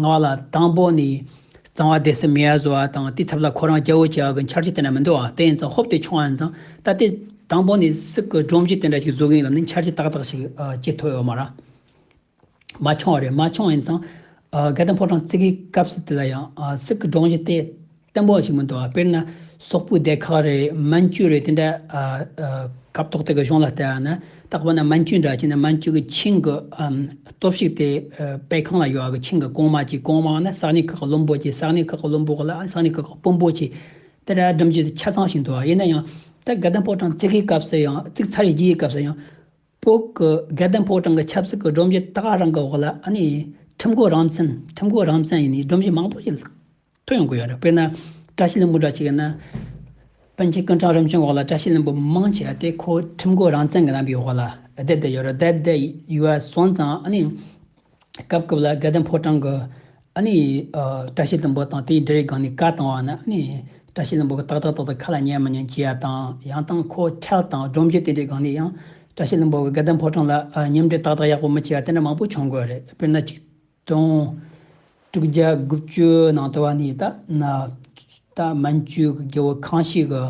ལྔ་ལ། དང་པོ་ནི། གཙང་བ་སྡེ་སྲིད་མི་ཡ་བཟོ་བ་དང་དེའི་ཚབ་ལ་ཁོ་རང་སྐྱེ་བོ་སྐྱེ་བ་གི་འཆར་གཅིག་དེ་འདྲ་མི་འདུག་ཨ། དེ་ཡིན་ཙང་ཧཱུྃ་ཏེ་ཕྱོགས་ཡིན་ཙང་ད་ལྟའི་དང་པོ་ནི་སྲིད་ཀྱི་སྒྲོམ་གཞི་དེ་འདྲ་ཞིག་བཟོ་གི་ཡིན་ལབ་ནས་འཆར་གཅིག་ཏག་ཏག་ཞིག་སྐྱེ་ཐུབ་ཡོད་མ་ར། མ་འཆོང་བ་རེད་མ་འཆོང་ཡིན་ཙང། སྒལ་དང་ཕོ་བྲང་བརྩེགས་ཀྱི་སྐབས་སུ་དེ་ལ་ཡང། སྲིད་ཀྱི་དགྲོངས་གཞི་དེ་བརྟན་པོ་བ་ཞིག་མི་འདུག་བ་དཔེར་ན། སོག་པོའི་སྡེ་ཁག་རེ་མན་ཇུ་རེ་དེ་འདྲ། སྐབས་ཐོག་དེ་གའི་གཞུང་ལ་བལྟས་པ་ན། རྟག་པར་ན་མན་ཇུ་འདྲ་བྱས་ན་མན་ཇུ་གྱི་ཆིང་གི། སྟོབས་ཤུགས་དེ་དཔལ་ཁང་ལ་ཡོད་བ་གི་ཆིང་གི་གོང་མ་གྱིས་གོང་མ་བ་ན་ས་གནས་ཁག་གི་བློན་པོ་གྱིས་ས་གནས་ཁག་གི་བློན་པོ་བ་ལ་ས་གནས་ཁག་གི་དཔོན་པོ་གྱིས། དེ་འདྲ་སྒྲིམ་གཞི་དེ་ཆ་ཚང་ཞིག་འདུག་བ་ཡིན་ན་ཡང། ད་སྒལ་དང་ཕོ་བྲང་བརྩེགས་ཀྱི་སྐབས་སུ་ཡང་བརྩེགས་ཚར་བཞི་ཡི་སྐབས་སུ་ཡང། བོད་ཀྱི་སྒེར་དང་ཕོ་བྲང་གི་ཆབ་སྲིད་ཀྱི་སྒྲོམ་གཞི་དག་རང་གི་འོག་ལ་ཁྲིམས་གོ་རང་བཙན་ཁྲིམས་གོ་རང་བཙན་ཡིན་ནའི་སྒྲོམ་གཞི་མང་པོ་ཞིག་ཐོན་ཡོང་གི་ཡོད་རེད་དཔེར་ན་བཀྲ་ཤིས་ལྷུན་པོ་འདྲ་ཞིག་ཡིན་ན། པཎ་ཆེན་ཀུན་བྲག་རིམ་བྱོན་འོག་ལ་བཀྲ་ཤིས་ལྷུན་པོ་མང་ཆེ་བ་དེ་ཁོའི་ཁྲིམས་གོ་རང་བཙན་གྱི་རྣམ་པའི་འོག་ལ་བསྡད་བསྡད་ཡོད་རེད་བསྡད་བསྡད་ཡུལ་བ་སོང་ཙང། སྐབས་སྐབས་ལ་སྒལ་ལྡན་ཕོ་བྲང་གི། བཀྲ་ཤིས་ལྷུན་པོ་དང་དེའི་འབྲེལ་བའི་སྒང་ནས་བཀའ་བཏང་བ་ན། བཀྲ་ཤིས་ལྷུན་པོ་གི་ཏག་ཏག་ཏག་ཏག་ཁ་ལ་ཉན་མི་ཉན་བྱས་ཡ་དང་ཡང་དང་ཁོ་ཁྱག་དང་སྒྲོམ་གྱི་དེ་འདྲའི་སྒང་ནས་ཡང། བཀྲ་ཤིས་ལྷུན་པོ་གི་སྒལ་ལྡན་ཕོ་བྲང་ལ་ཉམས་འདྲེས་ཏག་ཏག་ཡག་པོ་མི་བྱས་པ་དེ་འདྲ་མང་པོ་བྱུང་དགོས་རེད་དཔེར་ན་ཆིག་སྟོང། དྲུག་བརྒྱ་དགུ་བཅུའི་ནང་དུ་བ་ནི་ད་ན། མན་ཇུའི་གི་རྒྱལ་བོ་ཁང་ཞིག་གི།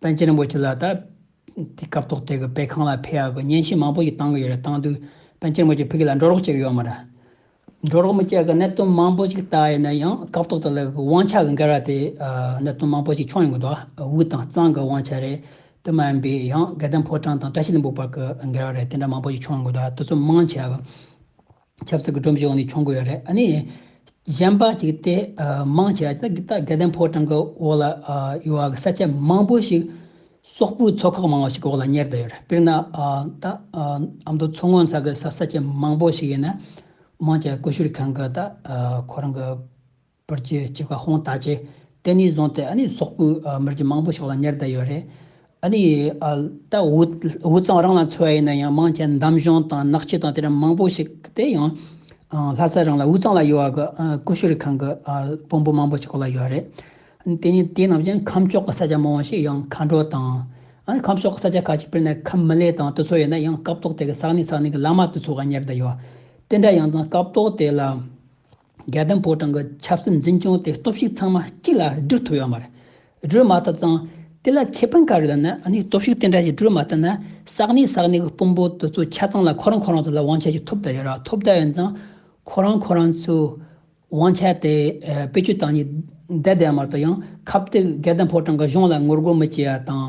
པཎ་ཆེན་རིན་པོ་ཆེ་ལ་ད་ལྟའི་སྐབས་ཐོག་དེ་གི་དཔེ་ཁང་ལ་ཕེབས་ཡག་གི་བརྙན་ཤེལ་མང་པོ་ཞིག་བཏང་གི་ཡོད་རེད་བཏང་དུས་པཎ་ཆེན་རིན་པོ་ཆེ་ཕི་གི་ལ་འགྲོ་རོགས་བྱེད་གི་ཡོད་མ་རེད། འགྲོ་རོགས་མི་བྱེད་གི་གནད་དོན་མང་པོ་ཞིག་ལྟ་ཡི་ན་ཡང་སྐབས་ཐོག་དེ་ལ་གི་དབང་ཆ་གི་འགལ་བ་དེ་གནད་དོན་མང་པོ་ཞིག་ཆོག་ཡོང་གི་འདུག་དབུས་དང་གཙང་གི་དབང་ཆ་རེད་དེ་མ་ཡིན་པའི་ཡང་དགེ་ལྡན་ཕོ་བྲང་དང་བཀྲ་ཤིས་ལྷུན་པོ་བར་གི་འགལ་བ་རེད་དེ་འདྲ་མང་པོ་ཞིག་ཆོག་ཡོང་གི་འདུག་དེ་ཚོ་མང་ཆེ་བ། ཆབ་སྲིད་ཀྱི་སྒྲོམ་གཞིའི་འོག་ནས་མཆོང་དགོས་ཡོད་རེད། ཨ་ནི། གཞན་པ་གཅིག་སྟེ། དམངས་ཆེ་བ་དེ་དག་དགེ་ལྡན་ཕོ་བྲང་གི་འོག་ལ་ཡོད་བ་གི་ས་ཆ་མང་པོ་ཞིག། སོག་པོའི་ཚོ་ཁག་མང་བ་ཞིག་གི་འོག་ལ་གཉེར་བསྡད་ཡོད་རེད། དཔེར་ན། ད། ཨ་མདོ་མཚོ་སྔོན་ས་གི་ས་ཆ་མང་པོ་ཞིག་ཡིན་ན། དམངས་ཆེ་བ་ཀུ་ཤུ་རི་ཁང་གི་ད། ཁོ་རང་གི། པར་གྱི་ཁྱི་ཁ་ཧོང་ད་ཅེ། དེ་ནས་བཟུང་སྟེ་ཨ་ནི་སོག་པོའི་མི་རྒྱུད་མང་པོ་ཞིག་ལ་ཉེར་བསྡད་ཡོད་རེད། ཨ་ནི། ད་འུ་ཚང་རང་ལ་འཚོལ་བ་ཡིན་ན་ཡང་མང་ཆེ་འདམ་གཞུང་དང་ནགས་ཁྱི་དང་དེ་འདྲ་མང་པོ་ཞིག་དེ་ཡང། ལྷ་ས་རང་ལ་འུ་ཚང་ལ་ཡོད་བ་གི་ཀུ་ཤུ་རི་ཁང་གི་དཔོན་པོ་མང་པོ་ཞིག་ལ་ཡོད་རེད། དེ་ནས་དེ་རྣམས་ཀྱང་ཁམས་ཕྱོགས་ཀྱི་ས་ཆ་མང་བོ་ཞིག་ཡང་མཁའ་འགྲོ་དང། ཁམས་ཕྱོགས་ཀྱི་ས་ཆ་ཁ་ཅིག་དཔེར་ན་ཁམས་མི་ལའི་དང་དེ་ཚོ་ཡོད་ན་ཡང་སྐབས་ཐོག་དེ་གི་ས་གནས་ས་གནས་ཀྱི་བླ་མ་དེ་ཚོ་ལ་ཉེར་བསྡད་ཡོད། དེ་འདྲ་ཡང་ཙང་སྐབས་ཐོག་དེ་ལ། རྒྱལ་དོན་པོ་ཀྲང་གི་ཆབ་སྲིད་འཛིན་སྐྱོང་དེ་སྟོབས་ཤུགས་ཚང་མ་གཅིག་ལ་བསྒྲིལ་ཐུབ་ཡོད་མ་རེད། བསྒྲིལ་མ་ཐུབ་ཙང། དེ་ལ་ཁེ་ཕན་ག་རེ་ལ་ན་ནིང་སྟོབས་ཤུགས་དེ་འདྲ་ཞིག་བསྒྲིལ་མ་ཐུབ་ན་ཟག་ནི་ཟག་ནི་གི་དཔུང་པོ་དེ་ཚོ་ཆ་ཚང་ལ་ཁོ་རང་ཁོ་རང་ཚོ་ལ་དབང་ཆ་ཞིག་ཐོབ་བསྡད་ཡོད་ར་ཐོབ་བསྡད་ཡོད་ཙང། ཁོ་རང་ཁོ་རང་ཚོའི་དབང་ཆ་དེ་བེད་སྤྱོད་བཏང་ནས་བསྡད་བསྡད་མ་ཐུབ་ཡང་ཁབ་དེ་རྒྱལ་དོན་པོ་ཀྲང་གི་གཞུང་ལ་ངོ་རྒོལ་མི་བྱེད་ཡ་དང།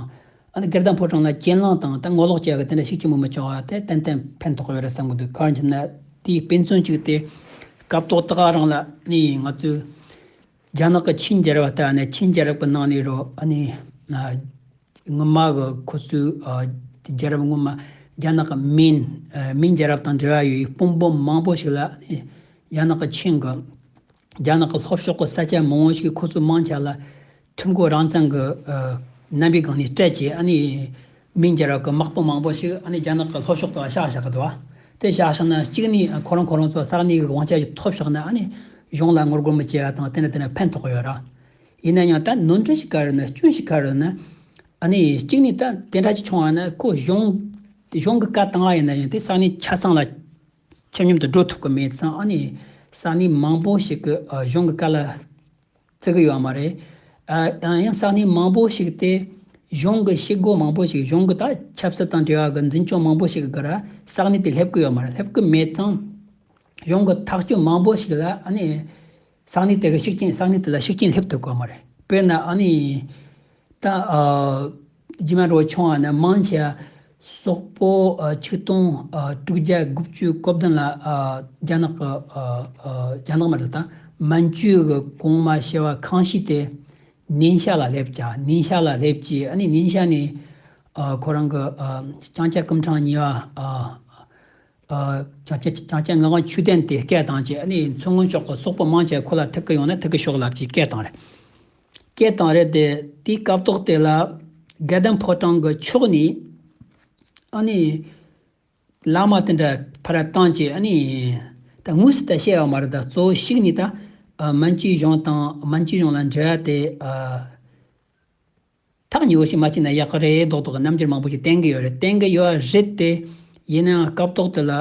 ཨ་ནི་སྐལ་བཟང་ཕོ་བྲང་ལ་གྱེན་ལངས་བཏང་སྟེ་ངོ་ལོག་བྱས་པ་དེ་འདྲ་ཞིག་ཅི་མི་མི་བྱུང་བ་དེ་ཏན་ཏན་ཕན་ཐོགས་ཡོད་རེད་བསམ་གྱི་འདུག་གར་འགྱིབ་ན་དེའི་དཔེ་མཚོན་གཅིག་སྟེ། སྐབས་ཐོག་ཏག་རང་ལ་ནི་ང་ཚོའི་རྒྱ་ནག་གི་ཆིན་རྒྱལ་རབས་ལྟར་ཨ་ནི་ཆིན་རྒྱལ་རབས་ཀྱི་ནང་ནས་རོ་ཨ་ནི་སྔོན་མ་གི་ཁོ་ཚོའི་རྒྱལ་རབས་སྔོན་མ་རྒྱ་ནག་གི་མིན་མིན་རྒྱལ་རབས་དང་འབྲེལ་བ་ཡོད་པའི་དཔུང་པོ་མང་པོ་ཞིག་ལ་ཨ་ནི་རྒྱ་ནག་གི་ཆིན་གྱི། རྒྱ་ནག་གི་ལྷོ་ཕྱོགས་ཀྱི་ས་ཆ་མང་བོ་ཞིག་ཁོ་ཚོའི་དམངས་ཆ་ལ་ཐུག་འགོ་རང་བརྩམས། རྣམ་པའི་སྒང་ནས་སྤྲད་རྗེས་ཨ་ནི་མི་འགྱར་བ་གི་དམག་དཔུང་མང་བོ་ཞིག་ཨ་ནི་རྒྱ་ནག་གི་ལྷོ་ཕྱོགས་དུ་བཞག་བཞག་གི་འདུག་བ། དེ་བཞག་བཞག་ན་གཅིག་ནི་ཁོ་རང་ཁོ་རང་ཚོ་ས་གནས་ཀྱི་དབང་ཆ་ཞིག་ཐོབ་ཞག་ན་ཨ་ནི་གཞུང་ལ་ངོ་རྒོལ་མི་བྱེད་བ་དང་དེ་ནི་དེ་ནི་ཕན་ཐོགས་ཡོད་ར། ཡིན་ན་ཡང་ད་ནོར་འཁྲུལ་ཞིག་ག་རེ་ནི་སྐྱོན་ཞིག་ག་རེ་ནི། ཨ་ནི་གཅིག་ནི་ད་དེ་འདྲ་ཅིག་བྱུང་བ་ན་ཁོ་གཞུང་གི་བཀའ་བཏང་བ་ཡིན་ན་ཡང་དེ་ས་གནས་ཆ་ཚང་ལ་ཆ་སྙོམས་དུ་འགྲོ་ཐུབ་ཀྱི་མེད་ཙང་ཨ་ནི་ས་གནས་མང་པོ་ཞིག་གི་གཞུང་གི་བཀའ་ལ་བརྩི་གི་ཡོད་མ་རེད། ཡང་ཡང་ས་གནས་མང་པོ་ཞིག་སྟེ་གཞུང་གི་བྱེད་སྒོ་མང་པོ་ཞིག་གཞུང་གི་དག་ཆབ་སྲིད་དང་འབྲེལ་བ་གི་འཛིན་སྐྱོང་མང་པོ་ཞིག་གི་སྒར་ས་གནས་དེ་སླེབས་ཀྱི་ཡོད་མ་རེད་སླེབས་ཀྱི་མེད་ཙང་གཞུང་གི་ཐག་གཅོད་མང་པོ་ཞིག་ལ་ཨ་ནི། སང་ནི་དེ་ག་ཤིག་རྐྱེན་སང་ནི་དེ་ལ་ཤིག་རྐྱེན་སླེབས་ཐུབ་དཀའ་མོ་རེད་དཔེར་ན་ཨ་ནི། ད་རྗེས་མ་འགྲོ་བ་ཆུང་བ་ནི་དམངས་ཆེ། སོག་པོ་ཆིག་སྟོང་དྲུག་བརྒྱ་དགུ་བཅུ་གོ་བདུན་ལ་རྒྱ་ནག་གི། རྒྱ་ནག་མ་རེད་ད་མན་ཇུའི་གི་གོང་མ་ཞེས་བ་ཁང་ཤིས་ཏེ། ནིན་ཤ་ལ་སླེབས་ཀྱ་ནིན་ཤ་ལ་སླེབས་ཀྱི་ཨ་ནི་ནིན་ཤ་ནི། ཁོ་རང་གི་ལྕང་སྐྱ་སྐུམ་གྲངས་ཉིས་བ། བྱང་ཆེན་བྱང་ཆེན་ངག་དབང་ཆོས་ལྡན་དེས་སྐད་བཏང་རྗེས་ནི་མཚོ་སྔོན་ཕྱོགས་སོག་པོ་དམངས་ཀྱིས་ཁོ་ལ་ཐུགས་ཀྱི་ཡོང་ནས་ཐུགས་ཀྱི་ཤོག་ལབ་ཀྱིས་སྐད་བཏང་རེད། སྐད་བཏང་རེད་དེ་དེའི་སྐབས་ཐོག་དེ་ལ་དགེ་ལྡན་ཕོ་བྲང་གི་ཕྱོགས་ནས་ཨ་ནི། བླ་མ་དེ་འདྲ་ཕར་བཏང་རྗེས་ཨ་ནི། ད་དངོས་སུ་ད་བཤད་ཡོད་མ་རེད་ད་གཙོ་བོ་ཞིག་ནི་ད། སྨན་བཅོས་གཞུང་དང་སྨན་བཅོས་གཞུང་ལ་འབྲེལ་བ་དེ། ཐག་ཉེ་བོ་ཞིག་མ་བཅད་ན་ཡག་གི་རེད་མདོག་མདོག་གི་རྣམ་འགྱུར་མང་པོ་ཞིག་བསྟན་གྱི་ཡོད་རེད་བསྟན་གྱི་ཡོད་རེད་དེ། ཡིན་ནའང་སྐབས་ཐོག་དེ་ལ་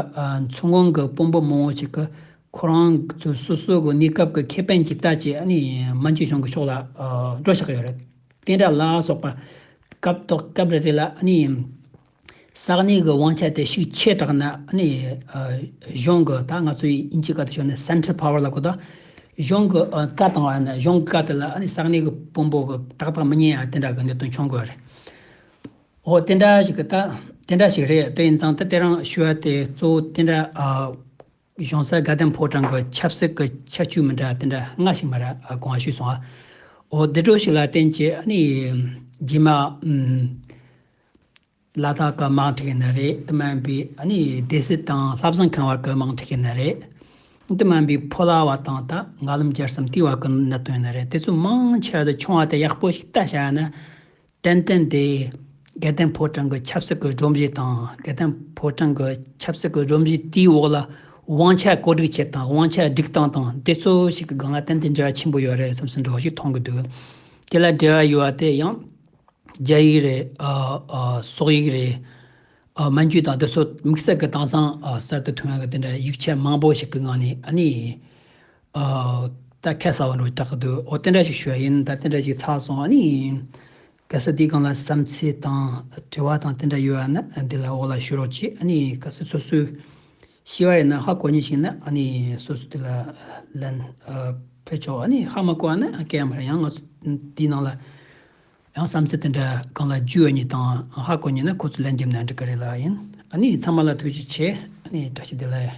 མཚོ་སྔོན་གྱི་དཔོན་པོ་མང་བོ་ཞིག་གིས་ཁོ་རང་ཚོའི་སོ་སོའི་གོ་གནས་སྐབས་ཀྱི་ཁེ་ཕན་གྱི་ལྟ་བཅས་ནི་མན་ཇུ་གཞུང་གི་ཕྱོགས་ལ་སྒྲོ་བཞག་གི་ཡོད་རེད། བསྟན་དགྲ་ལ་སོགས་པ་སྐབས་ཐོག་སྐབས་རེ་རེ་ལ་ནི། ས་གནས་ཀྱི་དབང་ཆ་དེ་ཤུགས་ཆེ་དྲགས་ན་ནི། གཞུང་གི་ད་ང་ཚོ་ཡི་དབྱིན་ཇིའི་བཀའ་དུ་ཤོར་ནས Central Power ལ་གོ་ད། གཞུང་གི་བཀའ་བཏང་བ་ན་གཞུང་གི་བཀའ་དེ་ལ་ནི་ས་གནས་ཀྱི་དཔོན་པོ་གི་ཏག་ཏག་མི་ཉན་ཡང་དེ་འདྲ་གི་གནད་དོན་འབྱུང་དགོས་རེད། འོ་དེ་འདྲ་ཞིག་གི་ད་དེ་འདྲ་ཞིག་རེད་དེ་ཡིན་ཙང་ད་དེ་རང་ཞུ་བ་དེ་གཙོ་བོ་དེ་འདྲ་གཞུང་སར་དགའ་ལྡན་ཕོ་བྲང་གི་ཆབ་སྲིད་ཀྱི་ཁྱད་བཅུ་མི་འདྲ་དེ་འདྲ་སྔ་ཞིག་མ་ར་གོང་བ་ཞུས་སོང་ཨ། འོ་དེ་འགྲོ་ཞིག་ལ་བརྟེན་ཅི་ནི། རྗེས་མ། བླ་དྭགས་སྐར་མ་འཁྲིགས་ཡིན་ན་རེད་དེ་སྨན་པའི་ནི་སྡེ་སྲིད་དང་ལྷ་བཟང་ཁང་བར་སྐར་མ་འཁྲིགས་ཡིན་ན་རེད་དེ་སྨན་པའི་ཕོ་ལྭ་བ་དང་ད་ང་ལམ་རྒྱར་སམ་ལྟི་བ་གི་གནད་དོན་ཡིན་ན་རེད་དེ་ཚོ་མང་ཆེ་བ་ཆུང་བ་དེ་ཡག་པོ་ཞིག་ལྟ་བྱ་ན་ཏན་ཏན་དེ་དགེ་ལྡན་ཕོ་བྲང་གི་ཆབ་སྲིད་ཀྱི་སྒྲོམ་གཞི་དང་དགེ་ལྡན་ཕོ་བྲང་གི་ཆབ་སྲིད་ཀྱི་སྒྲོམ་གཞི་དེའི་འོག་ལ་དབང་ཆ་བཀོད་སྒྲིག་བྱེད་དང་དབང་ཆ་སྒྲིག་སྟངས་དང་དེ་ཚོ་ཞིག་གི་སྒང་ལ་ཏན་ཏན་འབྲེལ་བ་ཆེན་པོ་ཡོད་རེད་བསམ་སེམས་འགྲོ་བ་ཞིག་མཐོང་གི་འདུག་དེ་ལ་འབྲེལ་བ་ཡོད་བ་དེ་ཡང། རྒྱ་ཡིག་རེད། སོག་ཡིག་རེད། མན་རྒྱུད་དང་དེ་སོགས་དམིགས་བསལ་གྱི་དྭངས་གཙང་གསར་དུ་ཐོན་ཡང་དེ་འདྲ་ཡིག་ཆ་མང་པོ་ཞིག་གི་ངང་ནས་ཨ་ནི། ད་ཁ་གསལ་བོ་འགྲོ་གྲགས་ཀྱི་འདུག་འོ་དེ་འདྲ་ཞིག་ཞུ་ཡ་ཡིན་ད་དེ་འདྲ་ཞིག་ཚགས་སོང་ཨ་ནི། གལ་སྲིད་འདིའི་སྒང་ལ་བསམ་ཚུལ་དང་དྲི་བ་དང་དེ་འདྲ་ཡོད་ཡ་ན་འདི་ལ་འོག་ལ་ཞུ་རོགས་གྱིས་ཨ་ནི་གལ་སྲིད་སོ་སོའི། ཤི་བ་ཡིན་ན་ཧ་གོ་ཉེན་ཞིག་ན་སོ་སོ་དེ་ལ་ལན་ཕུལ་ཆོག་ཧ་མ་གོ་བ་ན་སྐལ་ཡང་མ་རེད་ཡང་ང་ཚོ་དེའི་ནང་ལ་ཡང་བསམ་ཚུལ་དེ་འདྲ་གང་ལ་འཇུས་ཡོད་ཉིད་དང་ཧ་གོ་ཉེན་ན་ཁོ་ཚོས་ལན་འཇེབས་ན་འགྲིག་གི་རེད་ལ་ཡིན་ཚང་མ་ལ་ཐུགས་རྗེ་ཆེ་བཀྲ་ཤིས་བདེ་ལེགས།